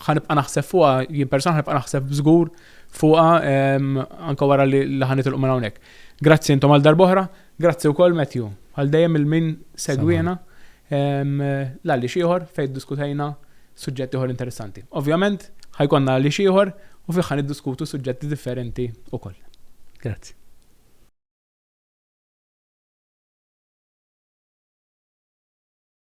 ħanibqa' naħseb fuqha, jien persona ħanibqa' naħseb żgur fuqha anke wara li ħanitilqu minn hawnhekk. Grazzi intom għal darbohra, Grazzi wkoll Matthew, għal dejjem il-min segwiena l-għaliex ieħor fejn diskutejna suġġetti ieħor interessanti. Ovvjament, ħajkonna għaliex ieħor u fih ħan iddiskutu suġġetti differenti wkoll. Grazzi.